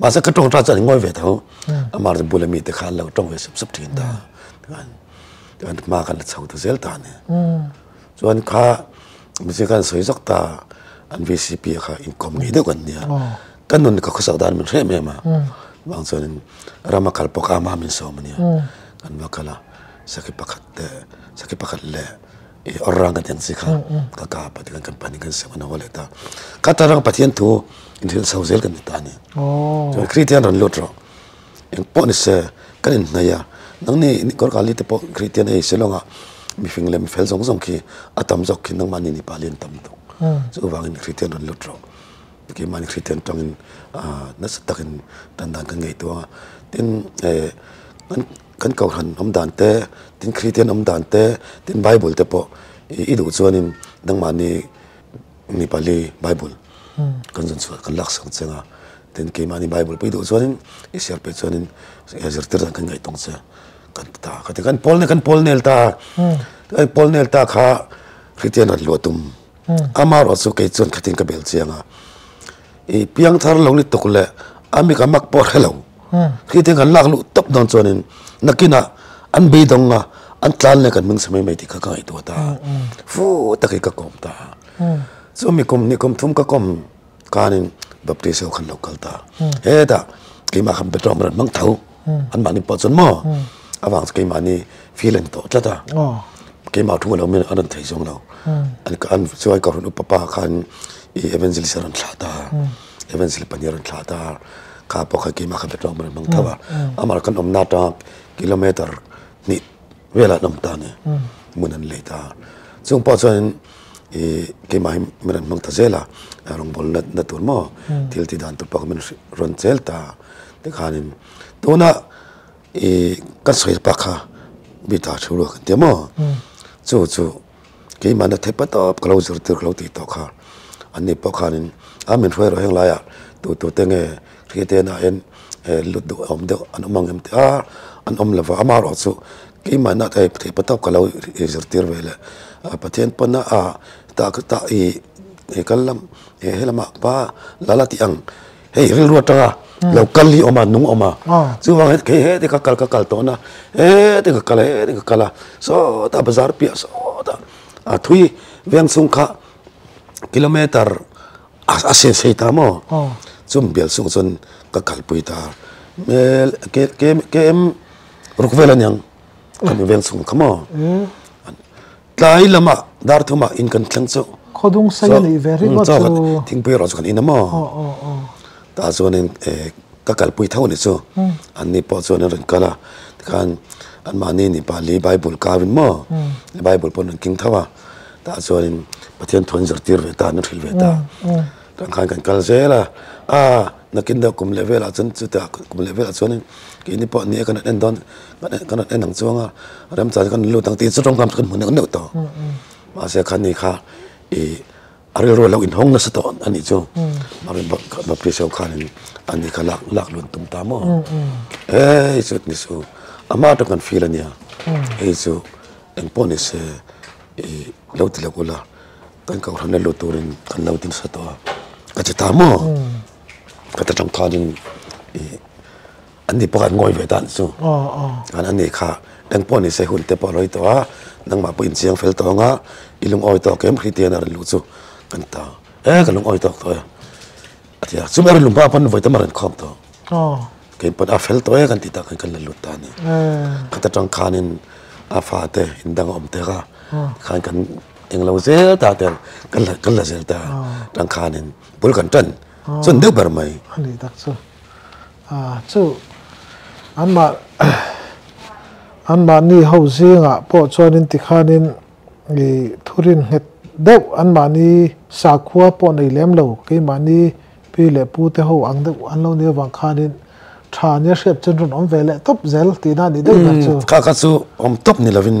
Mahse ka tawng atan chuan i ngawi ve ta u, amah rawh chu bula mite kha an lo tawng ve sup sup thin ta, chuan an hma kha an la chho ta zel ta nen chuan kha mite kha an sawi zawk ta, an vcp a kha inkawm ngei deuh kan nia, ka nun ka khawsak dan min hrem em a, vang chuanin ram a kal pawka amah min sawm ania, kan va kal a, sakhi pakhat leh sakhi pakhat leh. Eh aw rang ka ti ang si kha, ka ka pa te kan kan panin kan siam kan haw leh ta. Ka ta rang Pathian thu inhrilh chho zel kan ni ta a ni. Chuan Kristian rawn lut rawh, eng pawh ni se kan inhnaih a, nang ni Nikawr Kali te pawh Kristian ei se lawngah mi hring leh mi fel zawng zawng khi a tam zawk khi nangmah nini pali an tam tuk. Chu vangin Kristian rawn lut rawh. Keimahni Kristian tangin nasa takin dan dan kan ngei tu ang a. Tin, eh, kan. kan kohhran awm dan te tin kristian awm dan te tin bible te pawh i duh chuanin nangmahni mi pali bible kan zun chhuah kan laksak che nga tin keimahni bible pawh i duh chuanin i siam peh chuanin zirtir dan kan ngaih tawng che kan ti ta ka ti kan pawl kan pawl nel ta a i pawl nel ta kha kristian han luah tum ama erawh chu kei chuan khatin ka bel chiang a. i piang thar lo ni tuk leh a mi ka mak pawh a hre lo. Khi te kan lak luh tawp dawn chuanin nakinah an beidawng a, an tlan leh kan hming si mai mai tih kha ka ngaihtuah ta a, fu takin ka kawm ta a. Chu mi kum ni kum thum ka kawm khanin baptist ho kha an lo kal ta a. Hetah keimah khan background ram hmang tho. an mahni pawh chuan maw avang chu keimahni feel a ni tawh tlat a, keimah thu alo mian a rawn thei zawng lo, an chuan ka rawn up papa khan i evangelist a rawn thlah ta, evangelist pahnih a rawn thlah ta, kha pawh khan keimah kha betlawk a rawn hmang tho a, amah khan awmna ata kilometer hnih vel an awm ta a ni, hmun an lei ta, chung pawh chuan in i keimah hi min rawn hmang ta zel a, rawngbawlna na tur maw thil tih dan tur pawh kha min rawn chel ta, Tikhanin tuna i ka sawi pak kha mi ta thu lo kan ti maw chu chu keimahna thei pa tawp ka lo zir tir ka lo ti tawh kha an nih pawh khanin a min hruai erawh heng laia tu tu te nge khi te na en lut deuh awm deuh an awm ang em ti a an awm lova ama erawh chu keimahna thei thei pa tawp ka lo zir tir ve le pathian pawn a a tah kal lam he lamah pa lal a tih ang. hei rilru atanga lo kal hi awm a nung awm a chuvang hian kei hetei ka kal ka kal tawh nana hetei ka kal a hetei ka kal a sawta bazar piah sawta a thui veng chhung kha kilometer a sei sei ta maw chumi bial chhungah chuan ka kalpui ta hmel KM ruk vel aniang ka hmu veng chhung kha maw. Tlai lama dar thuma in kan thleng chu. Khawdung sai a nih ve rih maw chu. Thingpui erawh chu kan in a maw. Tah chuanin eh ka kalpui tho ni chu anni pawh chuan an rawn kal a. Tikhan anmahni ni pali bible kau in maw bible pawh an rawn keng tho a. Tah chuanin Pathian thuan zirtir ve ta an hrilh ve ta. Kan khan kan kal zel a, aa, nakin deuh kum leh velah chuan chute ah kum leh velah chuan keini pawh nia kan rawn en dawn, kan rawn en ang chuang a, remchang chu kan rawn lut ang tih chu rawng hnam chu kan hmu neuh neuh tawh, mahse kha ni kha ih a rilru a lo inhawng nasa tawh a nih chu, Bawpri Saw khanin a ni kha lak lak lun tum ta maw, hei chu ni chu a hma ṭawng kan feel a nia, hei chu engpawh ni se ih lo ti loh ula. Kan kohhran na lut turin kan lo din sa tawh a, ka ti ta maw? Ka ti tangkhanin ih an nih pawh kha an ngawi ve ta ni chu. An nih kha eng pawh ni se hunte pawh a rawi tawh a, nangmah pawh inchiang fel tawng a, i lungawi tawk em khi tian a rin luh chu kan ta. E ka lungawi tawk tawh e a ti a, chumi a rinawm hma pawn vawitam a rawn khawm tawh. Kei pawn a fel tawh e kan ti ta kan la lut ta a ni. Ka ti tangkhanin a fate indang a awm te kha khan kan eng lo zel ta ten kan la kan la zel ta tangkhan in bul kan tan chuan deuh ber mai a ni tak chu a chu an mah an mah ni ho zing ah pawh chuan in ti khan in i thu rin nghet deuh an mah ni sakhua pawh nei lem lo kei mah ni pi leh pu te ho ang deuh an lo nia vang khan in tha nia hriat chan rawn awm ve leh tawp zel ti na a ni deuh ber chu. Kha kha chu awm tawp ni lo in.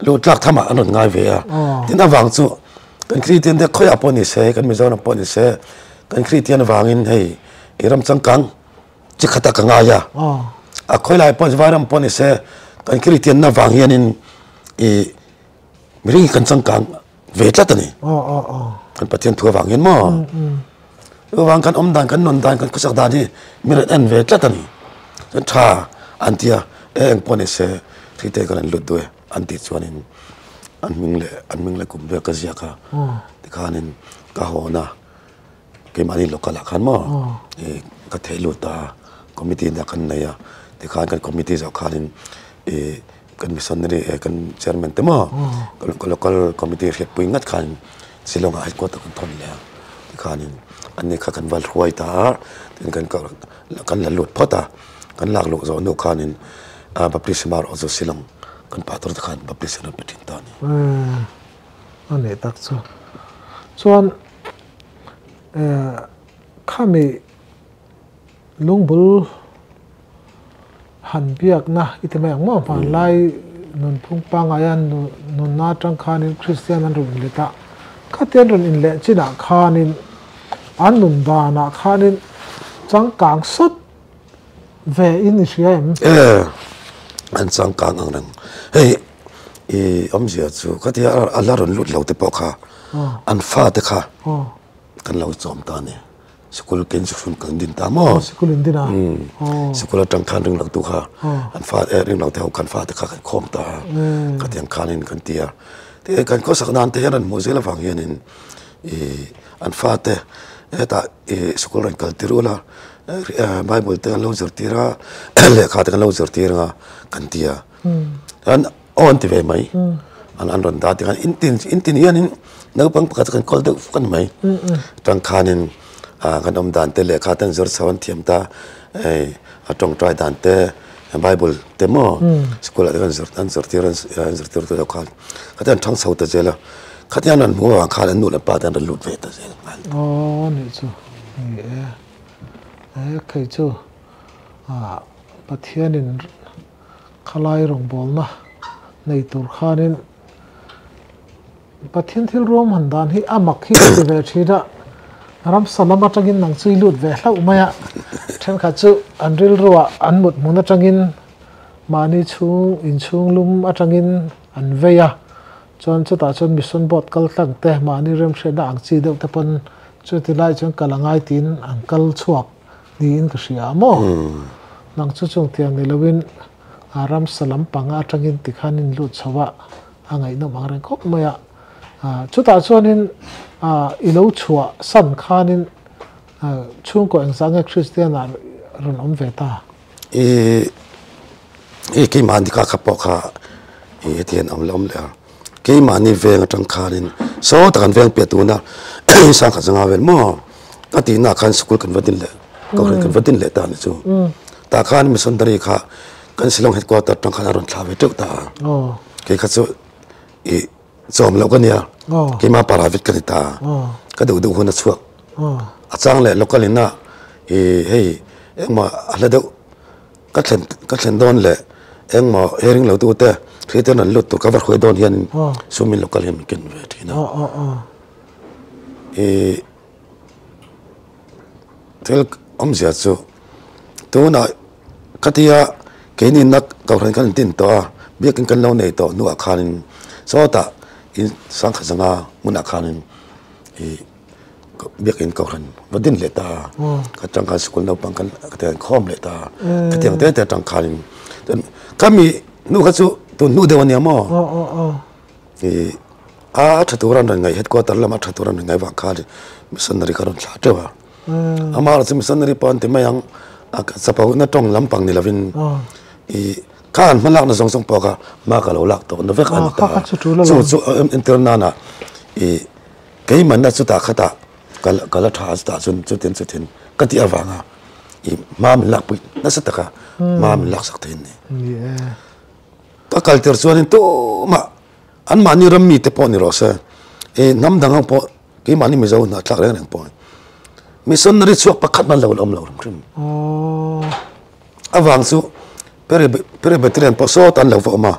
Lut tlak tham ah an rawn ngai ve a, tin avang chu kan Kristian te khawiah pawh ni se, kan Mizoram pawh ni se, kan Kristian avangin hei i ram changkang chi khat a ka ngai a, a khawilai pawh chu vairam pawh ni se, kan Kristian na vang hianin i mi ringin kan changkang. ve tlat a ni kan pathian thu avang hian maw chu vang kan awm dan kan nun dan kan khusak dan hi min rawn en ve tlat a ni chuan tha an ti a e eng pawh a ni se thei te kan han lut duai an tih chuan in an hming leh an hming leh kum vel ka ziak a tikhan in ka haw na. Keimahni local ah khan maw ih ka theih lut ta a, committee ina kan nei a, tikhan kan committee zawh khanin ih kan missionary eh kan chairman te maw ka local committee a hriatpui ngat khan Shillong ah headquarter kan thawn leh a, tikhanin an ni kha kan va hruai ta a, tin kan ka kan la lut phawt a, kan lak luh zawh hnuh khanin ah baptist amarawh chu Shillong kan pa tur te khan baptist an rawn pe thin ta a ni. Aa a neh tak chu, chuan. khami lungbul han biakna i ti mai ang mauh ang lai nun phung pangai a nunna atang khanin kristian an rawn inlet a khati an rawn inleh chinah khanin an nun danah khanin changkang sawt ve in i hria em? An changkang ang reng hei. i awmzia chu khatia a la rawn lut lote pawh kha an fate kha kan lo chawm ta ani sikul ken chi hran kan din ta maw sikul in din a sikul atang khan ring lotu kha an fa e ring lote ho khan fate kha kan khawm ta khatiang khan in kan tia te kan khaw sak nan te hian an hmuh zel avang hian in i an fate heta i sikul rawn kal tirul a bible te an lo zir tir a lehkha te kan lo zir tir anga kan tia Kan aw an ti ve mai, an an rawn dar tir a, in tin in tin hianin naupang pakhat chu kan call deuh fur a ni mai, chuan khanin ah kan awmdan te lehkha te an zawr chho a an thiam ta, hei a tawngtai dan te, bible te maw school ah te kan zawr an zawr tir an zawr tir te deuh khan khatia an chhang chho ta zel a, khatia an rawn hmu avang khan an nu leh an pa te an rawn lut ve ta zel a ni. Aw nih chu ni e, he khei chu ah Pathianin. Khalai rawngbawlna nei tur khanin Pathian thil ruam han dan hi a mak hi ka ti ve thin a, ramsa lam atangin nang chu i lut ve hlauh mai a, thenkhat chu an rilruah an muthmun atangin mahni chhung inchhunglum atangin an vei a, chuan chutah chuan mission boat kal tlang te, mahni remhriatna ang chi deuh te pawn chuti lai chuan kal a ngai tiin an kal chhuak. Niin ka hria maw? Nang chu chung tiang ni loin a ramsa lampang a atangin ti khan in lut chho a, a ngaihnawm ang reng khawp mai a. Chutah chuanin i lo chhuah san khanin chhungkaw engzah nge Kristiana rawn awm ve ta? I i keimahni ka kha pawh kha i heti hian a awm leh awm leh a, keimahni veng atang khanin sawi tak an veng piah tuna Sangkhat zanga vel maw a tihnaah khan school kan va din leh course kan va din leh ta ni chu. Tah khan missionary kha kan Shillong headquarter atang khan a rawn thlah ve teuh ta a, kei kha chu i. Chawm loh ka nia, keimah parah vit ka ni ta, ka duh duh hun a chhuak. A chang leh local in ah hei engmah a hla deuh ka thlen ka thlen dawn leh engmah hering lo tu te thei ten an lut tur ka va hruai dawn hian in sum in local hian min ken ve thin a. thil awm zia chu tunah ka ti a keini in na kal reng khan in tin tawh a biakin kan lo nei tawh hnu ah khan in sawtah in sangkhat zanga hmun ah khan in ih biakin kal reng va din leh ta a tang khan school naupang khan ka ti ang khawm leh ta ka ti ang tete a tang khan in kami hnu kha chu tun hnu deuh a ni ang maw. a tha tur an rawn ngaih headquarter lamah a tha tur an rawn ngaih vang khan missionary kha a rawn thlah teuh a, amah erawh chu missionary pawh an ti mai ang a chapau na tawng lampang ni lovin ih kha an hma lakna zawng zawng pawh kha hma ka lo lak tawh na vek a ni ta, chu chu an entir nana ih keimanna chutah khatah ka la ka la tha a chutah chuan chutin chutin ka tih avanga ih hma min lakpui nasa taka hma min laksak thei a ni. Ka kalter chuanin tumah an mahni ram mite pawh ni rawh se, i hnam dang ho pawh keimahni Mizo hnah thlak reng reng pawhin missionary chhuak pakhat hman lo la awm lo reng hrim. Avang chu Presbyterian pawh sawta an lo va awm a,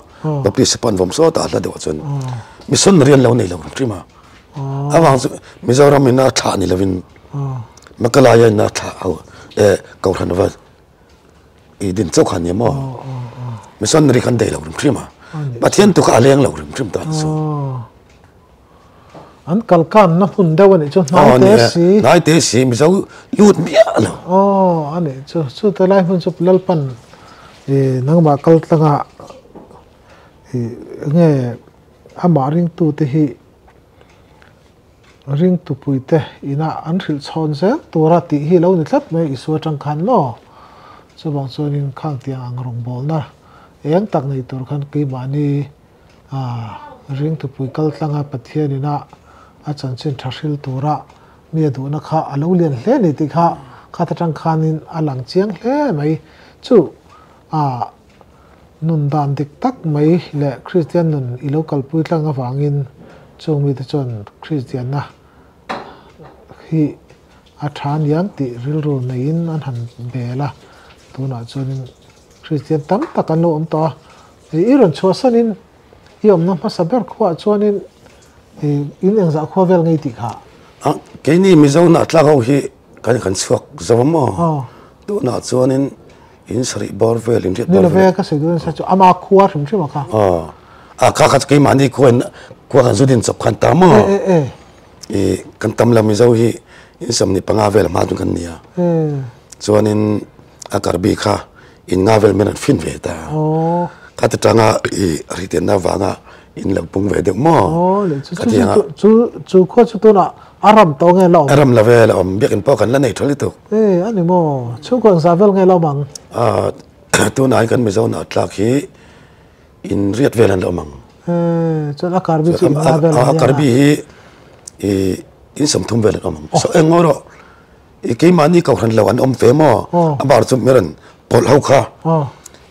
Baptist pawh an va awm sawta a hla deuhah chuan missionary an lo nei lo reng hrim a. Avang chu Mizoram ina thlah ni lovin Makalaia ina thlah ho, eh Kohhranva, i din chauh khan ni maw missionary khan dei lo rim hrim a pathian tu kha a leng lo rim hrim ta chu an kal kan na hun deuh ani chu hnai te si hnai te si mizo lut miah lo oh ani chu chu te lai hun chu lalpan i nangma kal tlanga i nge ama ring tu te hi Ring tupui te inah an hrilh chhawn zel tura tih hi lo ni tlat mai Isua tangkhan maw? Chuvang chuanin khang tiang ang rawngbawlna eng tak nei tur khan keimahni ring tupui kal tlanga Pathian inah a chanchin tha hril tura mi a duhna kha a lo lian hle ni tih kha khat atang khanin a lang chiang hle mai. Chu Nun dan dik tak mai leh Kristian nun i lo kalpui tlang avangin chung mite chuan Kristianna hi a tha a ni ang tih rilru neiin an han bel a. Tunah chuanin Kristian tam tak an lo awm tawh a. I i rawn chhuahsanin i awmna hmasa ber khuaah chuanin i in engzah khua vel ngei tih kha. Ang, keini Mizo hnah tlang ho hi kan kan chhuak zo maw? Aw. Tunah chuanin. In sarih bawr vel in hriat bawr vel. Nilo vela ka sawi dawn nasa chu ama khua hrim hrim a kha. Aw a kha kha chu keimahni khua in khua kan zut in chawp khan ta maw. E e e. I kan tam lo mizo hi insawn ni panga vel hma chu kan ni a. E. Chuanin a kar bik kha in nga vel mian an fin ve ta. Aw. Khati tanga i rihtianna vanga In lo pung ve deuh maw? Aw leh chu chu chu chu chu khuaah chu tunah a ram tawh nge la awm? A ram love la awm, biakin pawh kan la nei tha lutuk. Ee a ni maw? Chhungkaw in zah vel nge la awm ang? Aah tunah hian kan Mizonah tlak hi inriat vel an la awm ang. Ee chuan a Karbi chu inla vel ang hian a? A Karbi hi ih insawmthum vel an awm ang. Saw engmaw erawh ih keimahni Kohhran lo an awm ve maw? Aw. A bar chu Meran pawlh ho kha. Aw.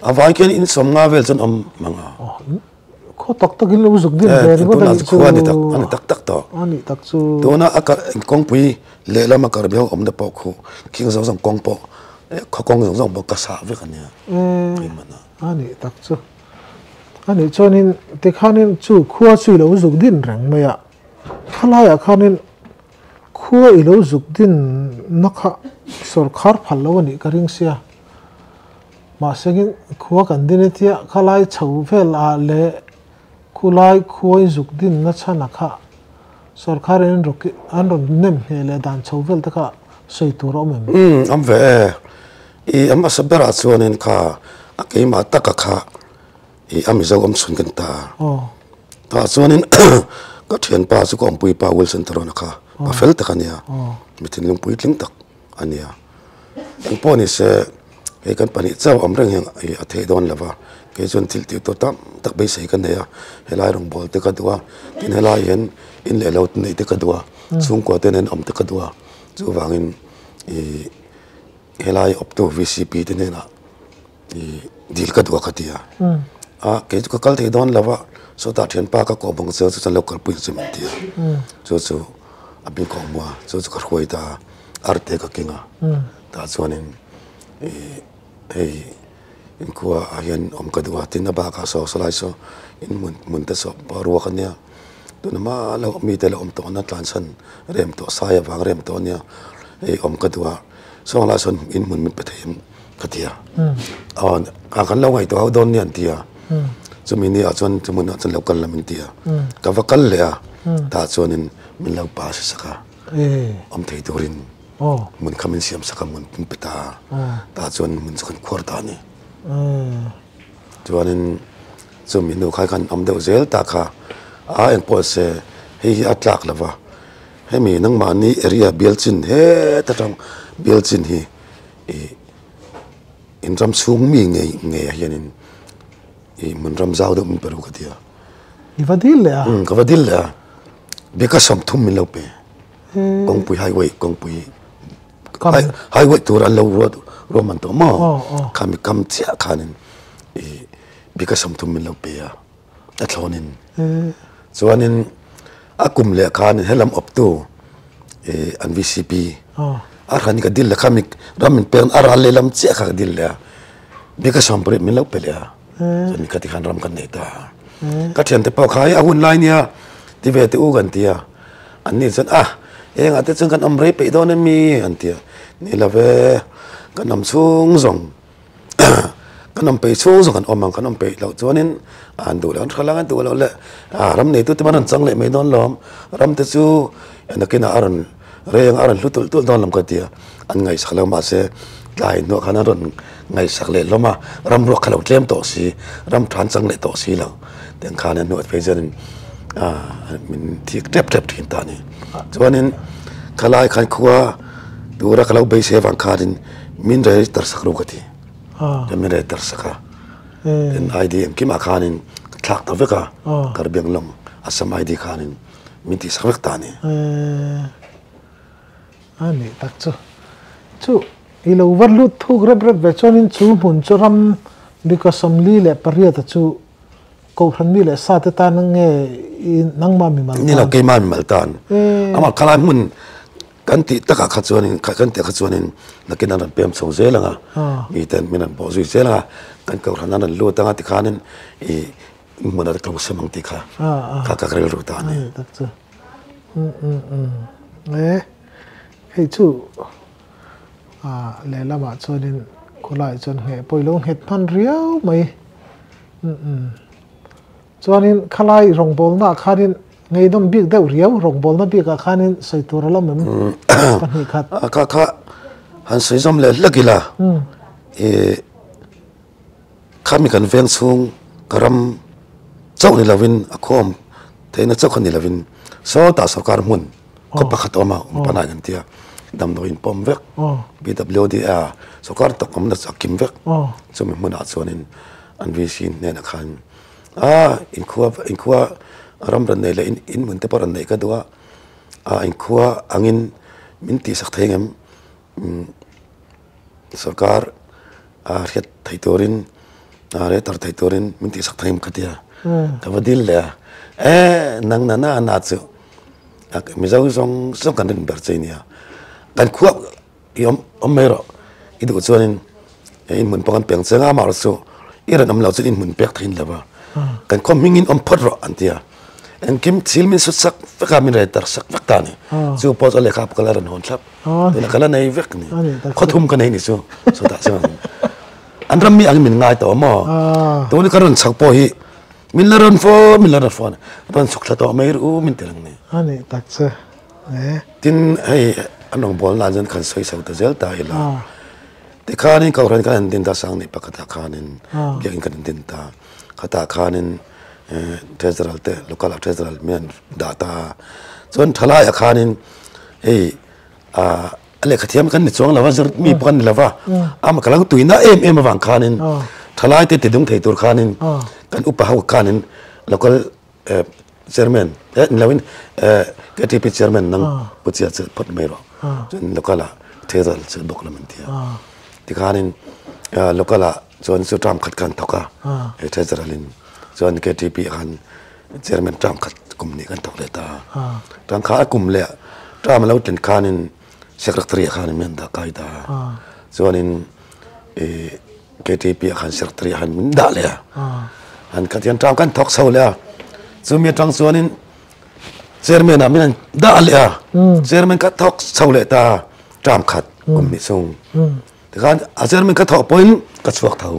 A vai khian insawm nga vel chuan awm hmang a. Aw. Khaw tak tak in lo zuk dim ve ringawt a nih chu. Khua ni tak, a ni tak tak tawh. A nih tak chu. Tuna a karh kawngpui lehlam a karh biau awmna pawh khu khing zawng zawng kawng pawh khaw kawng zawng zawng pawh ka sah vek a nia. Eeh a nih tak chu. A nih chuanin tikhanin chu khua chu i lo zuk din reng mai a. Khalaia khanin. Khua i lo zuk din na kha sawrkhar phal lo a nih ka ring sia. Mahse khin khua kan din e tia kha lai chho vel ah leh khulai khua in zuk din na chhan ah kha sawrkhar in an rawn nem hmeh leh dan chho vel te kha sawi tur a awm em? Umm awm ve e. I mahse ber ah chuan in kha a keimah tak a kha. ih a mizo awm chhun kan ta a tah chuanin ka thianpa chu ka awmpuipa wilson tharuna kha pa fel tak a nia mi thinlung pui tling tak a nia engpawh ni se hei kan pahnih chauh awm reng hian a theih dawn lo va kei chuan thil tih tur tam tak beisei ka nei a helai rawngbâwl te ka duh a tin helai hian in leh lo neih te ka duh a chhungkua te nen awm te ka duh a chuvangin ih helai awptu vcp te hnenah. dil ka duh a ka ti a, ah kei chu ka kal thei dawn lova, sawtah thianpa ka kawh bang chuan chu chuan lo kalpui chu chu min ti a, chu chu a bik a awm a, chu chu ka hruai ta a, a ri te ka keng a, tah chuanin ih hei inkhua ah hian awm ka duh a, tin a bakah a sawi sawi lai saw in hmun hmun te saw pawh a ruak a nia, tun a mah loh mite la awm tawh na tlansan rem tawh sai avang rem tawh a nia, hei awm ka duh a. Saw lah sawn in hmun min pe thei em ka ti a, aw a kan lo ngaihtuah ho dawn nia an ti a, chumi ni ah chuan chu hmun ah chuan lo kal lam in ti a, ka va kal leh a, tah chuan in min lo pa si sak a, awm thei tur in hmun kha min siam sak a hmun min pe ta a, tah chuan hmun chu kan khuar ta a ni. Chuanin chumi hnu kha khan awm deuh zel ta kha a eng pawh se hei hi a tlak lova hemi nangmahni area bial chin heta tang bial chin hi ih in ram chhung mi ngei ngei ah hianin ih hmun ram zau deuh min pe ru ka ti a. I va dil leh a? Umm ka va dil leh a, bik a sawm thum min lo pe, kawngpui highway kawngpui. Kam. Hai wait tur an lo ruat ruam man tawh maw? Aw aw. Kha mi kam chiah khanin i Bika Somthum min lo pe a, a thlawn in. E. Chuanin a kum leh khanin he lam awptu i an VCP. Aw. A hran ka dil leh kha mi ram min pek a ral leh lam chiah kha ka dil leh a, Bika Sawmprit min lo pe leh a. E. Chuan mi kha tikhan ram kan nei ta a. E. Ka thiante pawh kha e a hun lai nia ti ve teh u kan ti a. An ni chuan, Ah, eng ah te chuan kan awm rei peih dawn em i? an ti a, Ni lo ve, kan awm chhung zawng kan awm peih chhung zawng an awm ang, kan awm peih loh chuan in a an duh loh, an hre lak a, duh loh le, ah ram nei tu te pawh an rawn chang leh mai dawn lawm, ram te chu a nakin ah a rawn reng a, a rawn hlu tulh tulh dawn lawm ka ti a. an ngaihsak lo mahse tlai hnawh khan an rawn ngaihsak leh hlawm a ram ruak kha lo tlem tawh si ram than chang leh tawh si lo tiang khan an hnuai phei zia in ah min thik tep tep thin ta ni chuanin kha lai khan khua tura ka lo beisei avang khan in min rei tar sak ru ka ti chuan min rei tar sak a tin ID engkim ah khan in ka thlak ta vek a Karbi Anglawng Assam ID khan in min tih sak vek ta ni. A nih tak chu chu i lo va hlut thuk rep rep ve chuanin chu hmun chu ram bika sawmli leh pariat a chu Kohhran mi leh sa te tan nge i nangma mi mal tan? Ni lo keima mi mal tan. Amaw khalai hmun kan tih takah kha chuanin kha kan tih kha chuanin nakin an rawn pem chho zel ang a, mi ten min rawn bawh zui zel ang a, kan Kohhran an rawn lut ang a tikhanin i hmun a tum sem ang tih kha kha ka rilru ta a ni. Umm umm umm e, hei chu a lehlamah chuanin khawlai chuan ngheh pawh ilo nghet hman riau mai. Umm umm chuanin khalai rawngbawlnaah khanin ngeihnawm bik deuh riau, rawngbawlna bikah khanin sawi tur alo awm em? Pahnih khat. Ka kha han sawi zawm leh hlek ila e. Khami kan veng chhung ka ram chauh ni lovin a khawm thei na chauh kha ni lovin sawtah sawrkar hmun khaw pakhat a awm a, awm panai kan ti a, damdawi inpawm vek BWD a sawrkar tawk awmna chu a kim vek chumi hmunah chuanin an VC hnenah khan aa inkhua ram rawn nei leh inhmun te pawh rawn neih ka duh a, aa inkhua angin min tihsak thei ang em? Sarkar a hriat theih turin, a re tar theih turin min tihsak thei ang ka ti a, ka va dil leh a, eh nang nana a na chu Mizo zawng zawng kan rinber che a nia, kan khuap i awm mai erawh i duh chuan in, he inhmun pawh kan peng chiang a mahra chu i rawn awm lo chuan inhmun pek thei in lo va kan khawm hming in awm phawt rawh an ti a engkim thil min sut sak vek a min rei tar sak vek ta ni chu pawh chu a lehkha pakal a rawn hawn thlap tunah ka la nei vek a ni khaw thum ka nei ni chu chutah chuan an ram mi angin min ngai tawh maw tuni ka rawn chho pawh hi min la rawn fawn min la rawn fawn a rawn chhuk thla tawh mai ru min tel ang ni a ni tak che tin hei an rawn bual nan chuan kan sawi chho ta zel ta ila. Tikhanin ka awrhen khan intin ta a sang ni pakhatah khanin biakin kan intin ta a, khatah khanin treasurer te local a treasurer miah an dah ta a, chuan thalaiah khanin hei a lehkha thiam kan ni chuang lo a zir mi pawh kan ni lo va, ama ka lo tuina em em avang khanin thalaite ti dum thei tur khanin kan upa ho khanin local Chairman, eh ni loin KTP Chairman nang pu chiah chiah phawt mai rawh. Chuan local ah Thezal chu bawk lam an ti a. Tikhanin local ah chuan chu term khat khan thawk a, he Thezal in chuan KTP ah khan Chairman term khat kum ni kan thawk leh ta a. Tangka a kum leh a, term a lo tlen khanin. secretary ah khan min han dah kai ta a, chuanin ih KTP ah khan secretary ah khan min dah leh a, han khat hian tang khan thawk chho leh a, chumi atang chuanin chairman ah min han dah leh a, chairman kha thawk chho leh ta a, tang khat awm ni chung, tikhan a chairman kha thawk pawhin ka chhuak tho.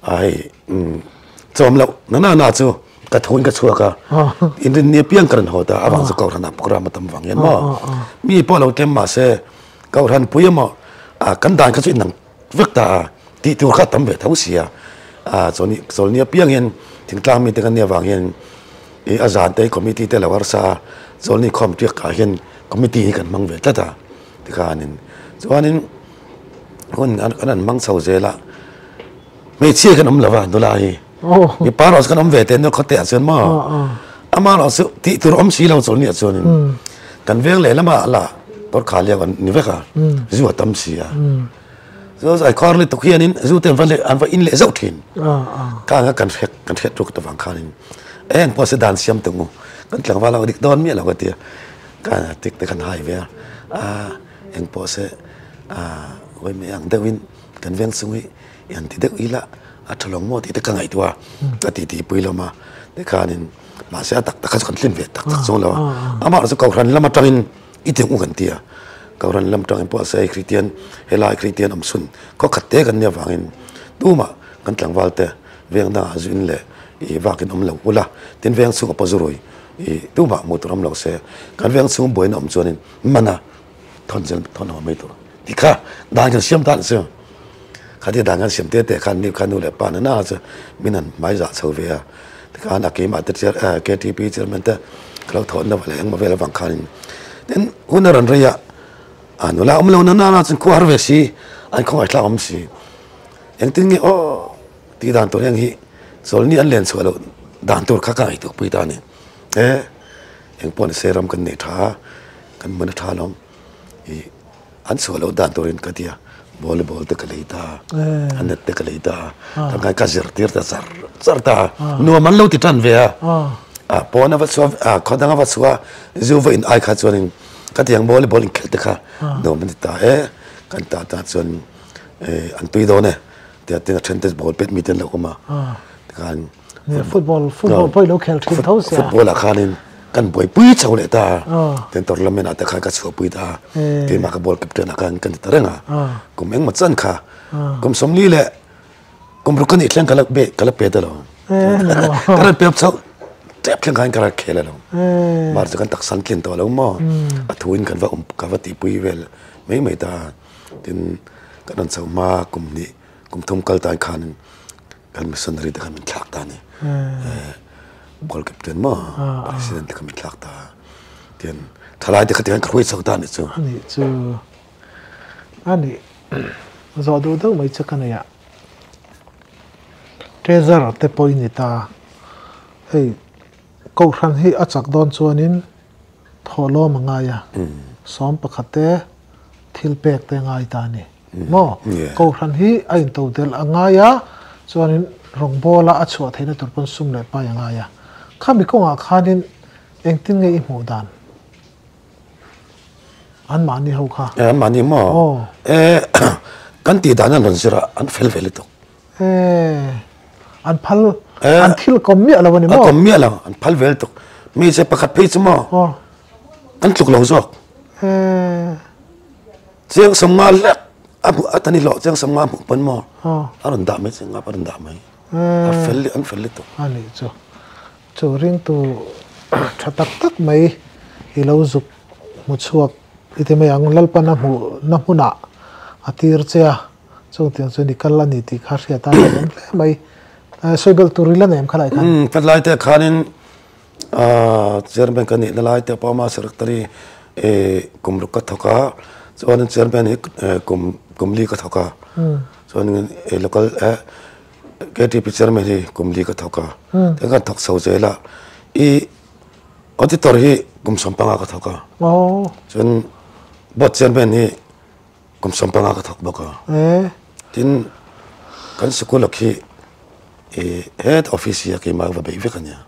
Ai chawm loh nana na chu ka thu in ka chhuak a, inrin ni apiang ka rawn haw ta, avang chu Kohhran ah program a tam vang hian maw, mi pawh a lo tlem mah se Kohhran pui emaw kan dan kha chu inang vek ta a, tih tur kha a tam ve tho si a, chawl ni apiang in thingtlang mite kan nih avang hian ih a zan te committee te a lo harsa a, chawl ni khawm piak ah hian committee hi kan hmang ve tlat a tikhanin chuan in. hun an an mang chho zel a hmeichhia khan awm lo va nula hi mipa erawh khan awm ve te nula khawteh ah chuan maw ama erawh chu tih tur awm si lo chu nia chuan in kan veng leh lamah a la kawr khah leh an ni vek a zu a tam si a chu zai kawr lutuk hian in zu te an va leh an va in leh zauh thin ka anga kan hrek kan hrek tuk ta vang khan in e an pawh se dan siam ta ngu kan tlangval ho dik dawn miah lo ka tia ka tik te khan hai ve a a Eng pawh se vaimei ang deuhin kan veng chung hi i han ti deuh ila, a tha lawng maw tih te ka ngaihtuah a, a titi pui hlawm a. Tikhanin mahse a tak tak kha chu kan hlim ve tak tak chuang lo a, amah chu Kohhran lam atangin i ti ang u kan ti a, Kohhran lam atangin pawh ase hei Kristian, helai Kristian awmchhun khaw khat te kan nia vangin tumah kan tlangval te veng dangah zuin leh i vakin awm lo ula, tin veng chhunga paw zu rui i tumah hmuh tur awm lo se, kan veng chhung buaina awm chuanin, hmana thawn zel thawn haw mai tur ti kha dan kan siam ta chu khati dan kan siam te te khan ni kha nu leh pa nana chu min han hmai za chho ve a tikhan a keima te chair a ktp chairman te ka lo thawn lova leh engmaw vel avang khanin tin huna ran reia a nula awm lo nana la chun khaw har ve si an khawngai thlak awm si engtin nge o ti dan tur heng hi chawlni an len chhuah lo dan tur kha ka ngaihtuah pui ta ni e eng pawh nise ram kan nei tha a kan mawina tha hlawm ih an chhuah loh dan turin ka tia volleyball te ka lei ta a net te ka lei ta a tangai ka zir tir ta zar zar ta nuam an lo ti tan ve a a pawn a va chhuah a khawnanga va chhuah zu va in ai kha chuanin ka tiang volleyball in khelh te kha nuam a ni ta e kan ta ta chuan an tui dawn e tia tin a then te ball pet mite an lo awm a tikhan football football pawh i lo khel thin tho sia. Football ah khanin kan buaipui chho leh ta a, tin tournament ah te khan ka chhuahpui ta a, keimah ka ball captain ah khan ka ni ta reng a, kum engmaw chan kha kum sawmli leh kum ruk ka nih thleng ka la be ka la pe ta lo, ka rawn pep chauh tep thleng khain ka rawn khel a lo, mar chu kan taksan tlen tawh lo maw, a thuin kan va awm ka va tihpui vel mai mai ta a, tin ka rawn chauh hma kum hnih kum thum kal tan khan, Kan missionary te kan min thlak ta a ni. Goal captain maw? President te kan min thlak ta a. Tian thalai te kha tiang ka hruai chho ta a nih chu. A nih chu. A nih. Zawh duh deuh mai chu ka nei a. Treasure te pawh i ni ta. Hei, Kohhran hi a chak dawn chuan in. Thaw lawm a ngai a, sawm pakhat te thil pek te a ngai ta a ni maw? Kohhran hi a into delh a ngai a, chuanin rawngbawla a chhuah theihna tur pawn sum leh pai a ngai a. Khami kawngah khanin engtin nge i hmuh dan? An mahni ho kha. E, an mahni maw? Aw. E, kan tih dan hian rawn zirah an fel ve lutuk. E, an phal, eh, an thil kom miah lo ani maw? A kom miah lo, an phal vel tuk. Mi se pakhat phei chu maw? Oh. An tluk lo zawk. E. Chiang som nga lek, a, a tani hlawh chiang som nga hmuh pawn maw? Oh. A rawn dah mai chiang nga, a rawn dah mai. E. A fel leh, an fel leh tuk. Ani chu. Chu ring tu tha tak tak mai i lo zuk hmu chhuak i ti mai ang. Lalpana hmuh na hmunah a tir che a. Chûng tiang chuan i kal a ni tih kha a hriat a, a êng hle mai. Sawi bel tûr ila nem kha lai khan. Umm, helai te khanin Chairman ka nih lalai te pawh mahse Secretary kum ruk ka thawk a, chuanin Chairman hi kum li ka thawk a, chuanin local KTP Chairman hi kum li ka thawk a, tin kha an thawk chho zel a. I Auditor hi kum sawm panga ka thawk a, chuan Board Chairman hi Kum sawm panga ka thawk bawk a. Tin kan sikul ah khi head office hi a keimah va beih vek a nia.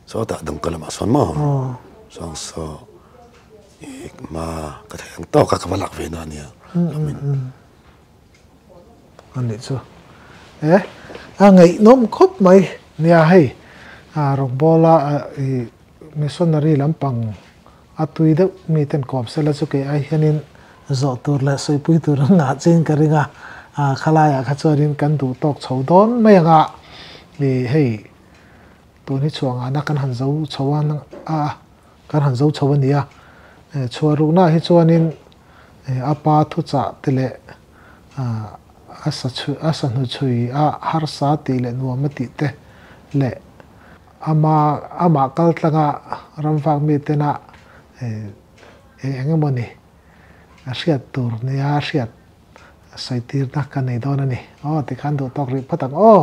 Sawtah Dawngka lamah sawn maw? Chuan saw ma ka thei ang tawk a ka va lak ve na a nia. A nih chu. E a ngaihnawm khawp mai nia hei. Rawkbawla missionary lampang. A tui deuh mi ten kawp se la chu kei ai hian in zawh tur leh sawipui tur an ngah chin ka ring a, ah khalaia ah kha chuan in kan duh tawk chho dawn mai ang a, i hei tun hi chhuah ngah na kan han zo chho a nang a a kan han zo chho a ni a, eh chhuah ruk na hi chuan in eh a pa thu chah te leh ah a sa chhui a sanu chhui a harsa tih leh nuam a tih te leh Ama amah kaltlanga ramvak mitena eng eng emaw ni a hriat tur nia hriat sawi tirna kan nei dawn a ni aw tikhan duhtawk rih phawt ang aw.